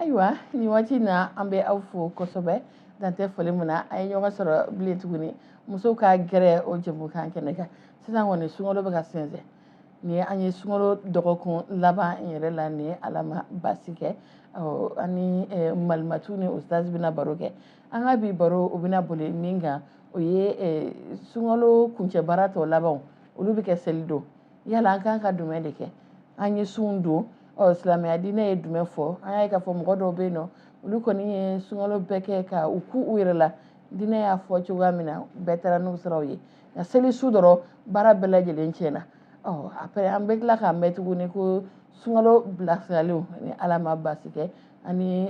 ayiwa nin waati in na an bɛ aw fo kosɛbɛ dan tɛ foli min na an ye ɲɔgɔn sɔrɔ bilen tuguni musow ka gɛrɛ o jɛmukan kɛnɛ kan sisan kɔni sunkalo bɛ ka sɛnsɛn nin ye an ye sunkalo dɔgɔkun laban in yɛrɛ la ni ala ma baasi kɛ ɔ an ni eh, malimatu ni ustaz bɛna baro kɛ an ka bi baro o bɛna boli min kan o ye eh, sunkalo kuncɛ baara tɔ labanw olu bɛ kɛ seli don yala an kan ka dumɛn de kɛ an ye sun don ɔ silamɛya diinɛ ye jumɛn fɔ an y'a ye k'a fɔ mɔgɔ dɔw bɛ yen nɔ olu kɔni ye sunkalo bɛɛ kɛ ka u kun u yɛrɛ la diinɛ y'a fɔ cogoya min na bɛɛ taara n'u siraw ye nka seli su dɔrɔn baara bɛɛ lajɛlen tiɲɛna ɔ après an bɛ tila k'a mɛn tuguni ko sunkalo bilasiraliw ni ala ma basi kɛ ani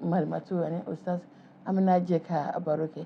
malimatu ani ustaz an bɛna jɛ ka baro kɛ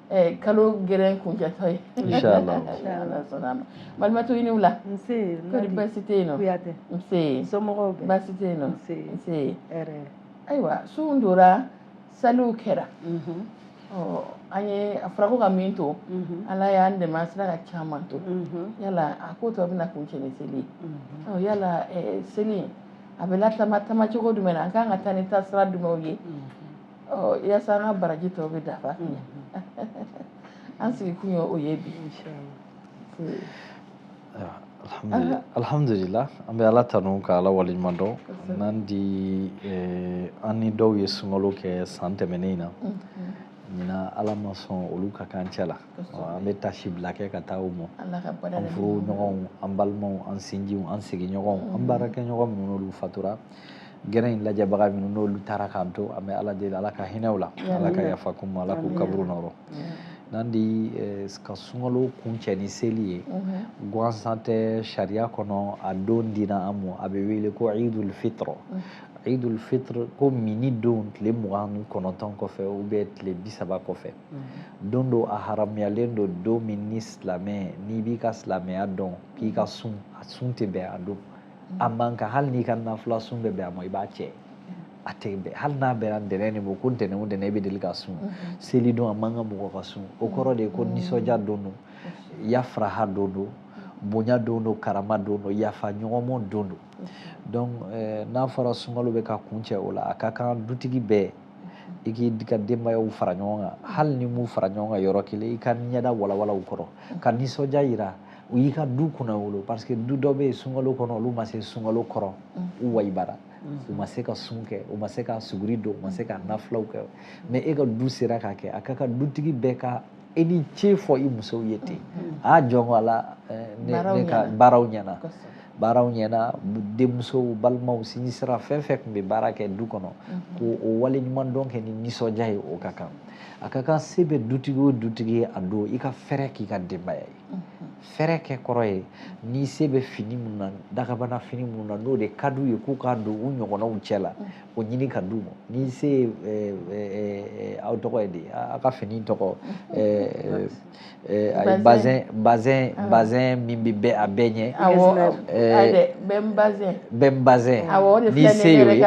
Eh, kalo gɛrɛ kuncɛtɔ ye inchallah ni ala sɔnna ma Malimatu i ni wula nsee kɔri baasi tɛ yen nɔ Kuyatɛ nsee somɔgɔw bɛɛ baasi tɛ yen nɔ nsee nsee hɛrɛ ayiwa sun dora saliw kɛra mhm. ɔ an ye a fɔra ko ka min to mhm. ala y'an dɛmɛ an sera ka caman to mhm. yala a ko tɔ bɛna kuncɛ ni seli ye ɔ yala eh, seli a bɛ latama tama cogo jumɛn na an kan ka taa ni taasira jumɛnw ye yasa an ka baraji tɔw bɛ dafa an sigi kun ye o ye bi alhamdulila an bɛ ala tanu ka ala waleɲuman dɔn n'an di eh, an ni dɔw ye sunkalo kɛ san tɛmɛnen in na ɲinan ala ma sɔn olu ka k'an cɛ la an bɛ taasibila kɛ ka taa u ma an furuɲɔgɔnw an balimaw an sinjiw an sigiɲɔgɔnw an baarakɛɲɔgɔn minnu n'olu fatura gɛrɛ in lajɛbaga minnu n'olu taara k'an to an bɛ ala deli ala ka hinɛ u la ala ka yafa k'u ma ala k'u kaburu nɔrɔ n'an di eh, ka sunkalo kuncɛ ni seli ye mhm. gansan tɛ sariya kɔnɔ a don dina an mɔ a bɛ wele ko idul fitr mhm. idul fitr ko minni don tile mugan ni kɔnɔntɔn kɔfɛ ou bien tile bi saba kɔfɛ mhm. don don a haramuyalen don don min ni silamɛ n'i b'i ka silamɛya dɔn k'i ka sun a sun tɛ bɛn a don a man kan hali n'i ka nafila sun bɛ bɛn a ma i b'a cɛ a tɛ bɛn hali n'a bɛnna ntɛnɛn de ma ko ntɛnɛn o ntɛnɛn i bɛ deli ka sun seli don a man kan mɔgɔ ka sun o kɔrɔ de ye ko nisɔndiya don don yafaraha don don bonya don don karama don don yafa ɲɔgɔn mɔ don don donc eh, n'a fɔra sunkalo bɛ ka kuncɛ o la a ka kan dutigi bɛɛ i k'i ka denbayaw fara ɲɔgɔn kan hali n'i m'u fara ɲɔgɔn kan yɔrɔ kelen i ka ɲɛda walawala u kɔrɔ ka nisɔndiya yira u y'i ka du kunna wolo parce que du dɔ bɛ yen sunkalo kɔnɔ olu ma se sunkalo kɔrɔ mm. u wayibara mm. u ma se ka sun kɛ u ma se ka suguri don u ma se ka nafilaw kɛ mais e ka du sera k'a kɛ a ka kan dutigi bɛɛ ka e ni ce fɔ i musow ye ten mm-hmm. a ah, jɔnko ala eh, ne ka baaraw ɲɛna baaraw ɲɛna denmusow balimaw sinji sira fɛn fɛn tun bɛ baara kɛ du kɔnɔ mm-hmm. ko o wale ɲuman dɔn kɛ ni nisɔndiya ye o ka kan a ka kan se bɛ dutigi o dutigi ye a don i ka fɛɛrɛ k'i ka denbaya ye fɛrɛ kɛ kɔrɔ ye n'i se bɛ fini minnu na dagabana fini minnu na n'o de ka d'u ye k'u k'a don u ɲɔgɔnnaw cɛ la o ɲini ka d'u ma n'i se ye eh, eh, eh, aw tɔgɔ ye de aw ka fini tɔgɔ a ye bazɛn bazɛn bazɛn min bɛ bɛɛ a bɛɛ ɲɛ awɔ bɛ n bazɛn bɛ n bazɛn n'i se y'o ye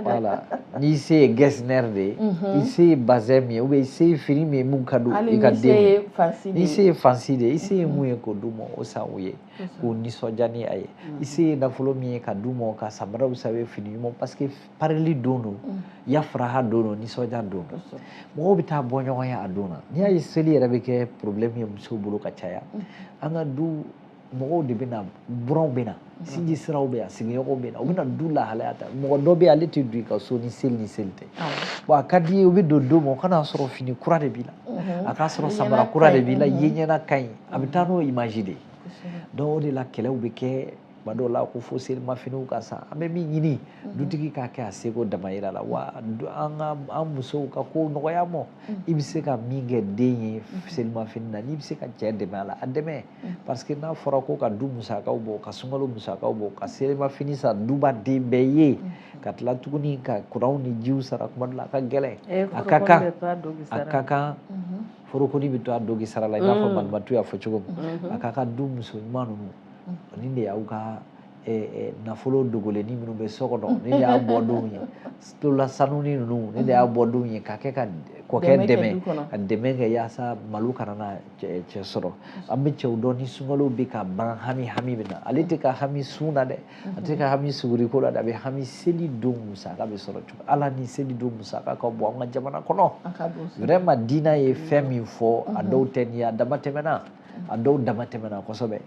wala n'i se ye getzner de ye i se ye bazɛn min ye ou bien i se ye fini min ye min ka di i ka denw ye n'i se ye fansi de ye i se ye min ye k'o d'u ma o san u ye k'u nisɔndiya ni a ye i se ye nafolo min ye ka d'u ma ka samaraw san u ye fini ɲuman parce que parili don don yafaraha don don nisɔndiya don don mɔgɔw bɛ taa bɔ ɲɔgɔn ye a don na n'i y'a ye seli yɛrɛ bɛ kɛ problème ye musow bolo ka caya an ka du mɔgɔw de bɛ na buranw bɛ na sinji siraw bɛ yan sigiɲɔgɔnw bɛ na u bɛ na du lahalaya ta mɔgɔ dɔ bɛ yen ale tɛ don i ka so ni seli ni seli tɛ wa a ka di ye u bɛ don don min o ka n'a sɔrɔ fini kura de b'i la mhm. a k'a sɔrɔ samara kura de b'i la ye ɲɛna ka ɲi a bɛ taa n'o image de ye donc o de la kɛlɛw bɛ kɛ tuma dɔw la ko fo selimafiniw ka san an bɛ min ɲini mhm. dutigi k'a kɛ a seko damayira la wa an ka an musow ka ko nɔgɔya mɔ mhm. i bɛ se ka min kɛ den ye selimafini na n'i bɛ se ka cɛ dɛmɛ a la a dɛmɛ parce que n'a fɔra ko ka du musakaw bɔ ka sunkalo musakaw bɔ ka selimafini san duba den bɛɛ ye mm-hmm. ka tila tuguni ka kuranw ni jiw sara kuma dɔ la a ka gɛlɛn eh, a ka kan a ka kan mm-hmm. forokoni bɛ to a dogi sara la i n'a fɔ mm. malimatu y'a fɔ cogo min mm-hmm. a ka kan du muso ɲuman ninnu nin de y'aw ka nafolo dogolenni minnu bɛ so kɔnɔ nin de y'a bɔdon ye tulola sanuni ninnu nin de y'a bɔdon ye ka kɛ ka kɔkɛ dɛmɛ ka dɛmɛ kɛ yaasa malo kana na cɛ sɔrɔ an bɛ cɛw dɔn ni sunkalo bɛ ka ban hami hami bɛ na ale tɛ ka hami sun na dɛ a tɛ ka hami suguriko la dɛ a bɛ hami seli don musaka bɛ sɔrɔ cogo la ani seli don musaka ka bon an ka jamana kɔnɔ vraiment diinɛ ye fɛn min fɔ a dɔw tɛ nin ye a dama tɛmɛna a dɔw dama tɛmɛna kosɛbɛ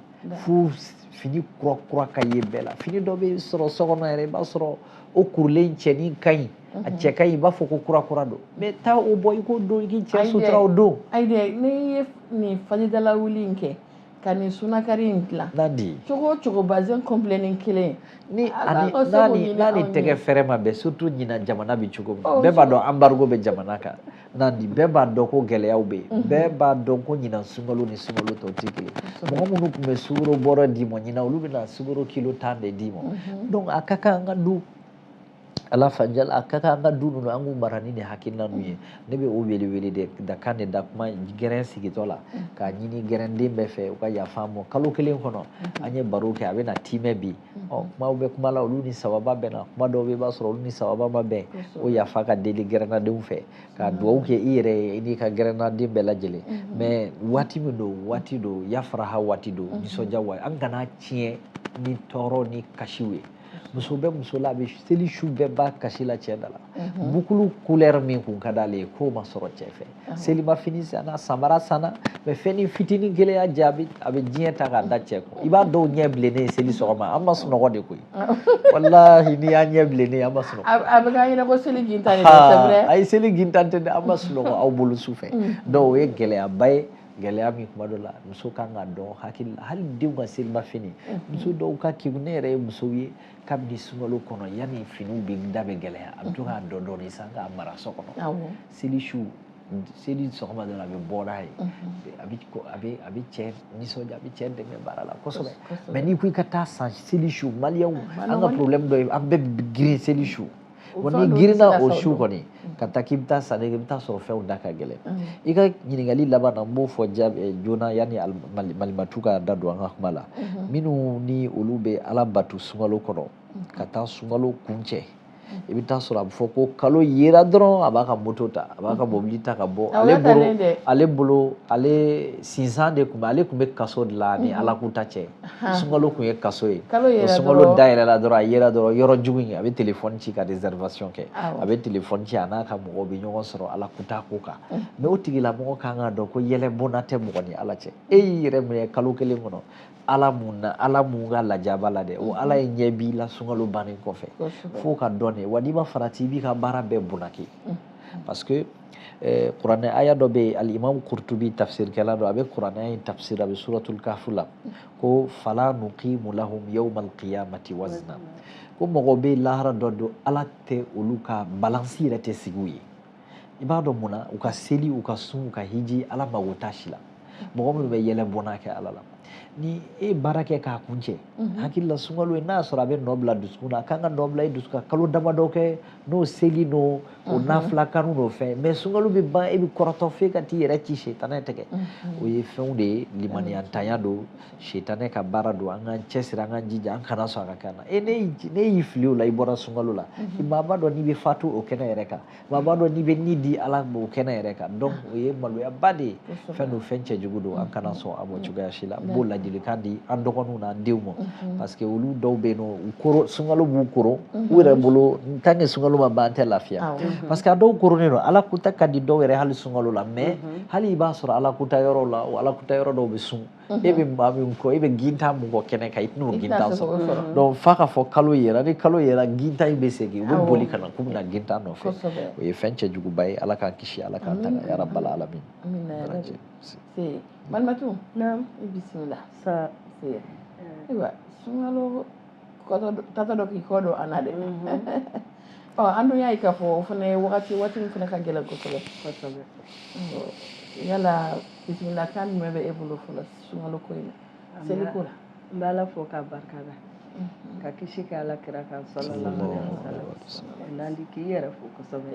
fo fini kura kura ka ye bɛɛ la fini dɔ bɛ sɔrɔ so kɔnɔ yɛrɛ i b'a sɔrɔ o kurulen cɛnin ka ɲi a mhm. cɛ ka ɲi i b'a fɔ ko kura kura don mais taa o bɔ i k'o don i k'i cɛ sutura o don. ayi dɛ ne ye nin fajiridala wuli in kɛ ka nin sunakari in dilan. n'a di. cogo o cogo bazin kɔnpilɛni kelen. ni ani n'a ni n'a ni tɛgɛ fɛrɛ ma bɛn surtout ɲinan jamana bɛ cogo min na oh, bɛɛ b'a dɔn embargo bɛ jamana kan. na nin bɛɛ b'a dɔn ko gɛlɛyaw bɛ yen bɛɛ b'a dɔn ko ɲinan sunkalo ni sunkalo tɔw tɛ kelen mɔgɔ minnu tun bɛ sukoro bɔrɛ d'i ma ɲinan olu bɛna sukoro kilo tan de d'i ma donc a ka kan an ka du ala fanjal a ka kan an ka du ninnu an k'u mara ni nin hakilina ninnu ye ne bɛ o wele wele de da kan de da kuma gɛrɛn sigitɔ la k'a ɲini gɛrɛnden bɛɛ fɛ u ka yafa an ma kalo kelen kɔnɔ an ye baro kɛ a bɛna tiimɛ bi ɔ kumaw bɛ kuma la olu ni sababa bɛnna kuma dɔw bɛ i b'a sɔrɔ olu ni sababa ma bɛn o yafa ka deli gɛrɛnnadenw fɛ ka dugawu kɛ i yɛrɛ ye i n'i ka gɛrɛnnaden bɛɛ lajɛlen mais waati min don waati don yafaraha waati don nisɔndiya waati an kan'a tiɲɛ ni tɔɔrɔ ni kasiw ye muso bɛ muso la a bɛ seli su bɛɛ ban kasi la cɛ da la bukulu kulɛri min kun ka d'ale ye k'o ma sɔrɔ cɛ fɛ selimafini sanna samara sanna mais fɛnnin fitinin kelen y'a jɛ a bɛ diɲɛ ta k'a da cɛ kun i b'a dɔw ɲɛ bilennen ye seli sɔgɔma an ma sunɔgɔ de koyi walahi n'i y'a ɲɛ bilennen a ma sunɔgɔ a bɛ k'an ɲɛ na ko seli gintan de don ayi seli gintan tɛ dɛ an ma sunɔgɔ aw bolo su fɛ donc o ye gɛlɛyaba ye gɛlɛya min kuma dɔ la muso kan k'a don hakili la hali denw ka selimafini muso dɔw ka kegun ne yɛrɛ ye musow ye kabini sunkalo kɔnɔ yanni finiw bɛ da bɛ gɛlɛya a bɛ to k'a dɔɔnin dɔɔnin san k'a mara so kɔnɔ seli su seli sɔgɔma dɔrɔn a bɛ bɔ n'a ye a bɛ a bɛ a bɛ cɛ nisɔndiya a bɛ cɛ dɛmɛ baara la kosɛbɛ mais n'i ko i ka taa san seli su maliyɛnw an ka problème dɔ ye an bɛɛ bɛ girin seli su wa n'i girinna o su kɔni ka taa k'i bɛ taa sanni kɛ i bɛ taa sɔrɔ fɛnw da ka gɛlɛn i ka ɲininkali laban na n b'o fɔ jaabi joona yanni malimatu ka da don an ka kuma la minnu ni olu bɛ ala bato sunkalo kɔnɔ ka taa sunkalo kuncɛ i bɛ taa sɔrɔ a bɛ fɔ ko kalo yera dɔrɔn a b'a ka moto ta a b'a ka mobili ta ka bɔ ale bolo ale bolo ale sinsan de tun bɛ ale tun bɛ kaso de la ni ala kuta cɛ sunkalo tun ye kaso ye sunkalo dayɛlɛla dɔrɔn a yera dɔrɔn yɔrɔ jugu in a bɛ telefɔni ci ka réservation kɛ a bɛ telefɔni ci a n'a ka mɔgɔ bɛ ɲɔgɔn sɔrɔ ala kuta ko kan mais o tigilamɔgɔ kan k'a dɔn ko yɛlɛ bɔnna tɛ mɔgɔ ni ala cɛ e y'i yɛrɛ minɛ kalo kelen kɔnɔ ala mun na ala mun ka lajaba la dɛ o ala ye ɲɛ b'i la sunkalo bannen kɔfɛ f'o ka dɔn de wa n'i ma farati i b'i ka baara bɛɛ bunaki parce que eh, kuranɛ aya dɔ bɛ yen alimam kurtubi tafsirikɛla dɔ a bɛ kuranɛ in tafsir a bɛ suratul kafu la ko fala nuqimu lahum yawma alqiyamati wazna ko mɔgɔ bɛ lahara dɔ don ala tɛ olu ka balansi yɛrɛ tɛ sigi u ye i b'a dɔn mun na u ka seli u ka sun u ka hiji ala mago t'a si la mɔgɔ minnu bɛ yɛlɛ bɔnna kɛ ala la n'i ye baara kɛ k'a kuncɛ mhm. hakili la sunkalo ye n'a sɔrɔ a bɛ nɔ bila dusukun na a kan ka nɔ bila i dusu ka kalo damadɔ kɛ n'o seli n'o o mhm. nafila kanu n'o fɛn mais sunkalo bɛ ban e bɛ kɔrɔtɔ f'e ka t'i yɛrɛ ci sitanɛ tɛgɛ mhm. o ye fɛnw de ye limaniyantanya don sitanɛ ka baara don an k'an cɛsiri an k'an jija an kana sɔn a ka kɛ an na e n'e y'i fili o la i bɔra sunkalo la mhm. maa b'a dɔn n'i bɛ fatu o kɛnɛ yɛrɛ kan maa b'a dɔn n'i bɛ ni di ala ma o kɛnɛ yɛrɛ kan donc o ye maloyaba de ye fɛn don fɛn cɛjugu don an kana mhm. sɔn a ma cogoya si la n b'o ladilikan di an dɔgɔninw n'an denw ma mhm. parce que olu dɔw bɛ yen nɔ u koron sunkalo b'u koron u yɛrɛ bolo tant que sunkalo ma ban an tɛ lafiya ah parce que a dɔw koronnen don ala kuta ka di dɔw yɛrɛ hali sunkalo la mais hali i b'a sɔrɔ ala kuta yɔrɔ la o ala kuta yɔrɔ dɔw bɛ sun e bɛ maa min kɔ e bɛ gintan mun kɔ kɛnɛ kan i tɛn'o gintan sɔrɔ donc f'a ka fɔ kalo yera ni kalo yera gintan in bɛ segin u bɛ boli ka na k'u bɛ na gintan nɔfɛ o ye fɛn cɛjuguba ye ala k'an kisi ala k'an tanga ya rabbal alamin malimatu i bisimila ayiwa sunkalo taatɔ don k'i kɔ don an na dɛ ɔ an dun y'a ye k'a fɔ o fana ye wagati waati min fana ka gɛlɛn kosɛbɛ kosɛbɛ yala bisimila kan jumɛn bɛ e bolo fɔlɔ sunkalo ko in na seli ko la n bɛ ala fo k'a barika da ka kisi kɛ ala kira kan sallallahu alaihi wasallam nandi k'i yɛrɛ fo kosɛbɛ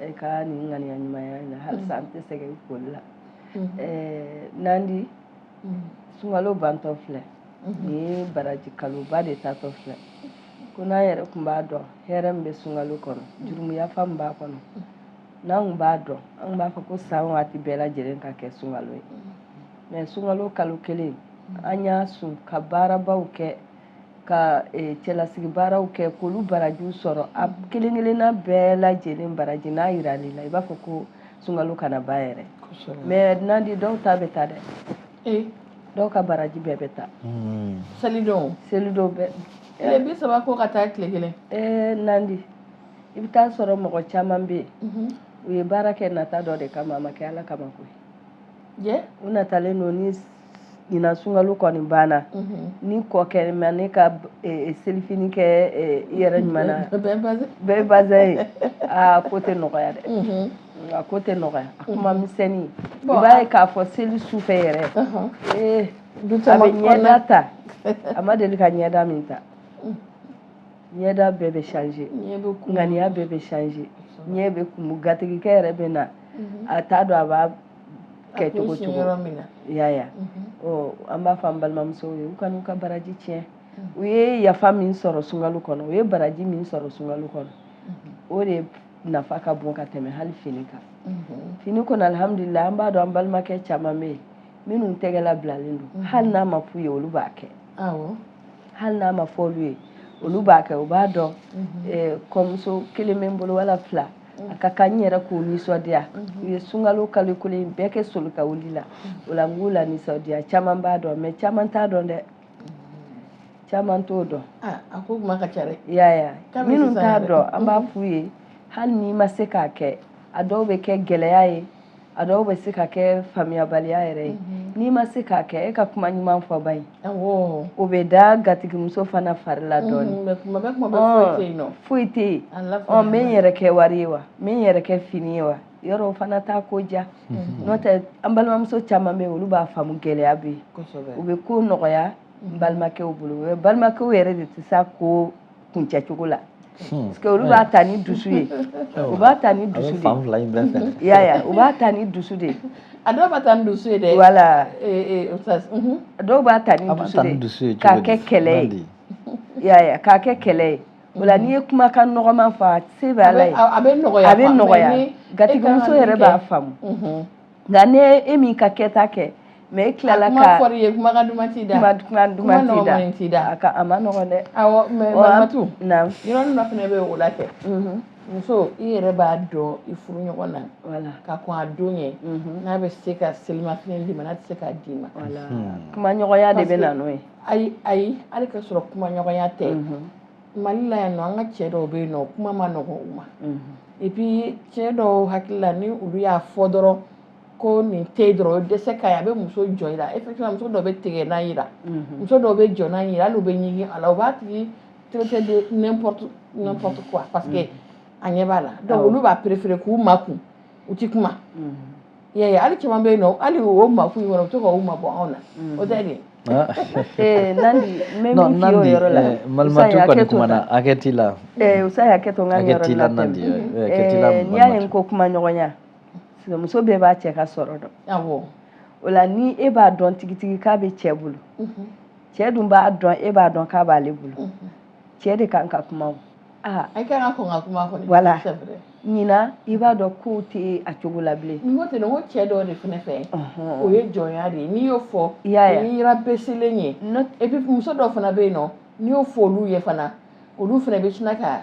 e ka nin ŋaniya ɲumanya in na halisa an tɛ sɛgɛn i foli la nandi sunkalo bantɔ filɛ ni baraji kaloba de taatɔ filɛ ko n'an yɛrɛ tun b'a dɔn hɛrɛ min bɛ sunkalo kɔnɔ jurumuyafa min b'a kɔnɔ n'an tun b'a dɔn an tun b'a fɔ ko san waati bɛɛ lajɛlen ka kɛ sunkalo ye mais sunkalo kalo kelen an y'a sun ka baarabaw kɛ ka eh, cɛlasigi baaraw kɛ k'olu barajiw sɔrɔ a kelen kelenna bɛɛ lajɛlen baraji n'a yiral'i la i b'a fɔ ko sunkalo kana ban yɛrɛ mais nandi dɔw ta bɛ taa dɛ ee dɔw ka baraji bɛɛ bɛ taa hmm. selidon selidon bɛɛ tile bi saba ko ka taa tile kelen ee nandi i bɛ taa sɔrɔ mɔgɔ caman bɛ yen mhm. u ye baara kɛ nata dɔ de kama a ma kɛ ala kama koyi u natalen don ni ɲinan sunkalo kɔni banna mhm. ni kɔkɛ ma ne ka e, e, selifini kɛ e, i yɛrɛ ɲuman na bɛɛ bazɛn ye a ko tɛ nɔgɔya dɛ mhm. A ko tɛ nɔgɔya a kuma misɛnnin i b'a ye k'a fɔ seli su fɛ yɛrɛ ee du a bɛ ɲɛda ta a ma deli ka ɲɛda min ta ɲɛda bɛɛ bɛ changé ŋaniya bɛɛ bɛ changé ɲɛ bɛ kumu gatigikɛ yɛrɛ bɛ na a t'a dɔn a b'a kɛ cogo cogo y'a ya an b'a fɔ an balimamusow ye u kan'u ka baraji tiɲɛ u ye yafa min sɔrɔ sunkalo kɔnɔ u ye baraji min sɔrɔ sunkalo kɔnɔ o de nafa ka bon ka tɛmɛ hali fini kan mhm. fini kɔnɔ alihamudulila an b'a dɔn an balimakɛ caman bɛ yen minnu tɛgɛla bilalen don mhm. hali n'a ma f'u ye olu b'a kɛ hali n'a ma fɔ olu ye olu b'a kɛ u b'a dɔn mhm. eh, kɔmuso kelen bɛ n bolo wala fila a ka kan n yɛrɛ k'u nisɔndiya u ye sunkalo kalo kelen bɛɛ kɛ soli ka wuli la o la n k'u la nisɔndiya caman b'a dɔn mais caman t'a dɔn dɛ caman t'o dɔn ah, a ko kuma ka ca dɛ yaya minnu t'a dɔn an b'a f'u ye hali n'i ma se k'a kɛ a dɔw bɛ kɛ gɛlɛya ye a dɔw bɛ se ka kɛ faamuyabaliya yɛrɛ ye mhm. n'i ma se k'a kɛ e ka kuma ɲuman fɔ ba ye o bɛ da gatigimuso fana fari la mhm, dɔɔnin foyi tɛ yen n bɛ n yɛrɛ kɛ wari ye wa n bɛ n yɛrɛ kɛ fini ye wa yɔrɔ fana t'a ko ja mhm. n'o tɛ an balimamuso caman bɛ yen olu b'a faamu gɛlɛya bɛ yen u bɛ ko nɔgɔya n balimakɛw bolo balimakɛw yɛrɛ de tɛ s'a ko kuncɛ cogo la hmm. parce que olu b'a ta ni dusu ye u b'a ta ni dusu de ye yaya u b'a ta ni dusu de ye a dɔw b'a ta ni dusu ye dɛ voilà eh, eh, mhm. a dɔw b'a ta ni dusu de ye k'a kɛ kɛlɛ ye yaya k'a kɛ kɛlɛ ye O la n'i ye kumakan nɔgɔman fɔ a se bɛ ala ye a bɛ nɔgɔya a bɛ nɔgɔya gatigimuso yɛrɛ b'a faamu nka ni e m'i ka kɛta kɛ mais e tilala ka fɔ ye kumakan duman t'i da duman t'i da a ka a ma nɔgɔn dɛ mais malimatu yɔrɔ fana bɛ o la kɛ muso i yɛrɛ b'a dɔn i furu ɲɔgɔn na ka kɔn a don ɲɛ n'a bɛ se ka selimafini d'i ma n'a tɛ se k'a d'i ma kumaɲɔgɔnya de bɛ na n'o ye ayi ayi hali ka sɔrɔ kumaɲɔgɔnya tɛ mali la yan nɔ an ka cɛ dɔw bɛ yen nɔ kuma ma nɔgɔn u ma et puis cɛ dɔw hakili la ni olu y'a fɔ dɔrɔn ko nin tɛ dɔrɔn dɛsɛ ka ye a bɛ muso jɔ i la effectivement muso dɔw bɛ tigɛ n'a yira muso dɔw bɛ jɔ n'a yira hali u bɛ ɲigin a la u b'a tigi traiter de n'importe n'importe quoi parce que a ɲɛ b'a la donc olu b'a préférer k'u makun u ti kuma Ya hali caman bɛ yen nɔ hali o ma f yɔrɔ to k'a mabɔ anw na o tɛ de t'i la n'i y'a ye n ko kumaɲɔgɔnya muso bɛɛ b'a cɛ ka sɔrɔ dɔn o la ni e b'a dɔn tigitigi k'a bɛ cɛ bolo cɛ dun b'a dɔn e b'a dɔn k'a b'ale bolo cɛ de kan ka kuma aa a kan ka kɔn ka kuma kɔni voilà ɲinan i b'a dɔn kow tɛ a cogo la bilen n ko ten n ko cɛ dɔw de fana fɛ o ye jɔnya de ye n'i y'o fɔ o ye i rabaissélen ye et puis muso dɔw fana bɛ yen nɔ n'i y'o fɔ olu ye fana olu fana bɛ sina ka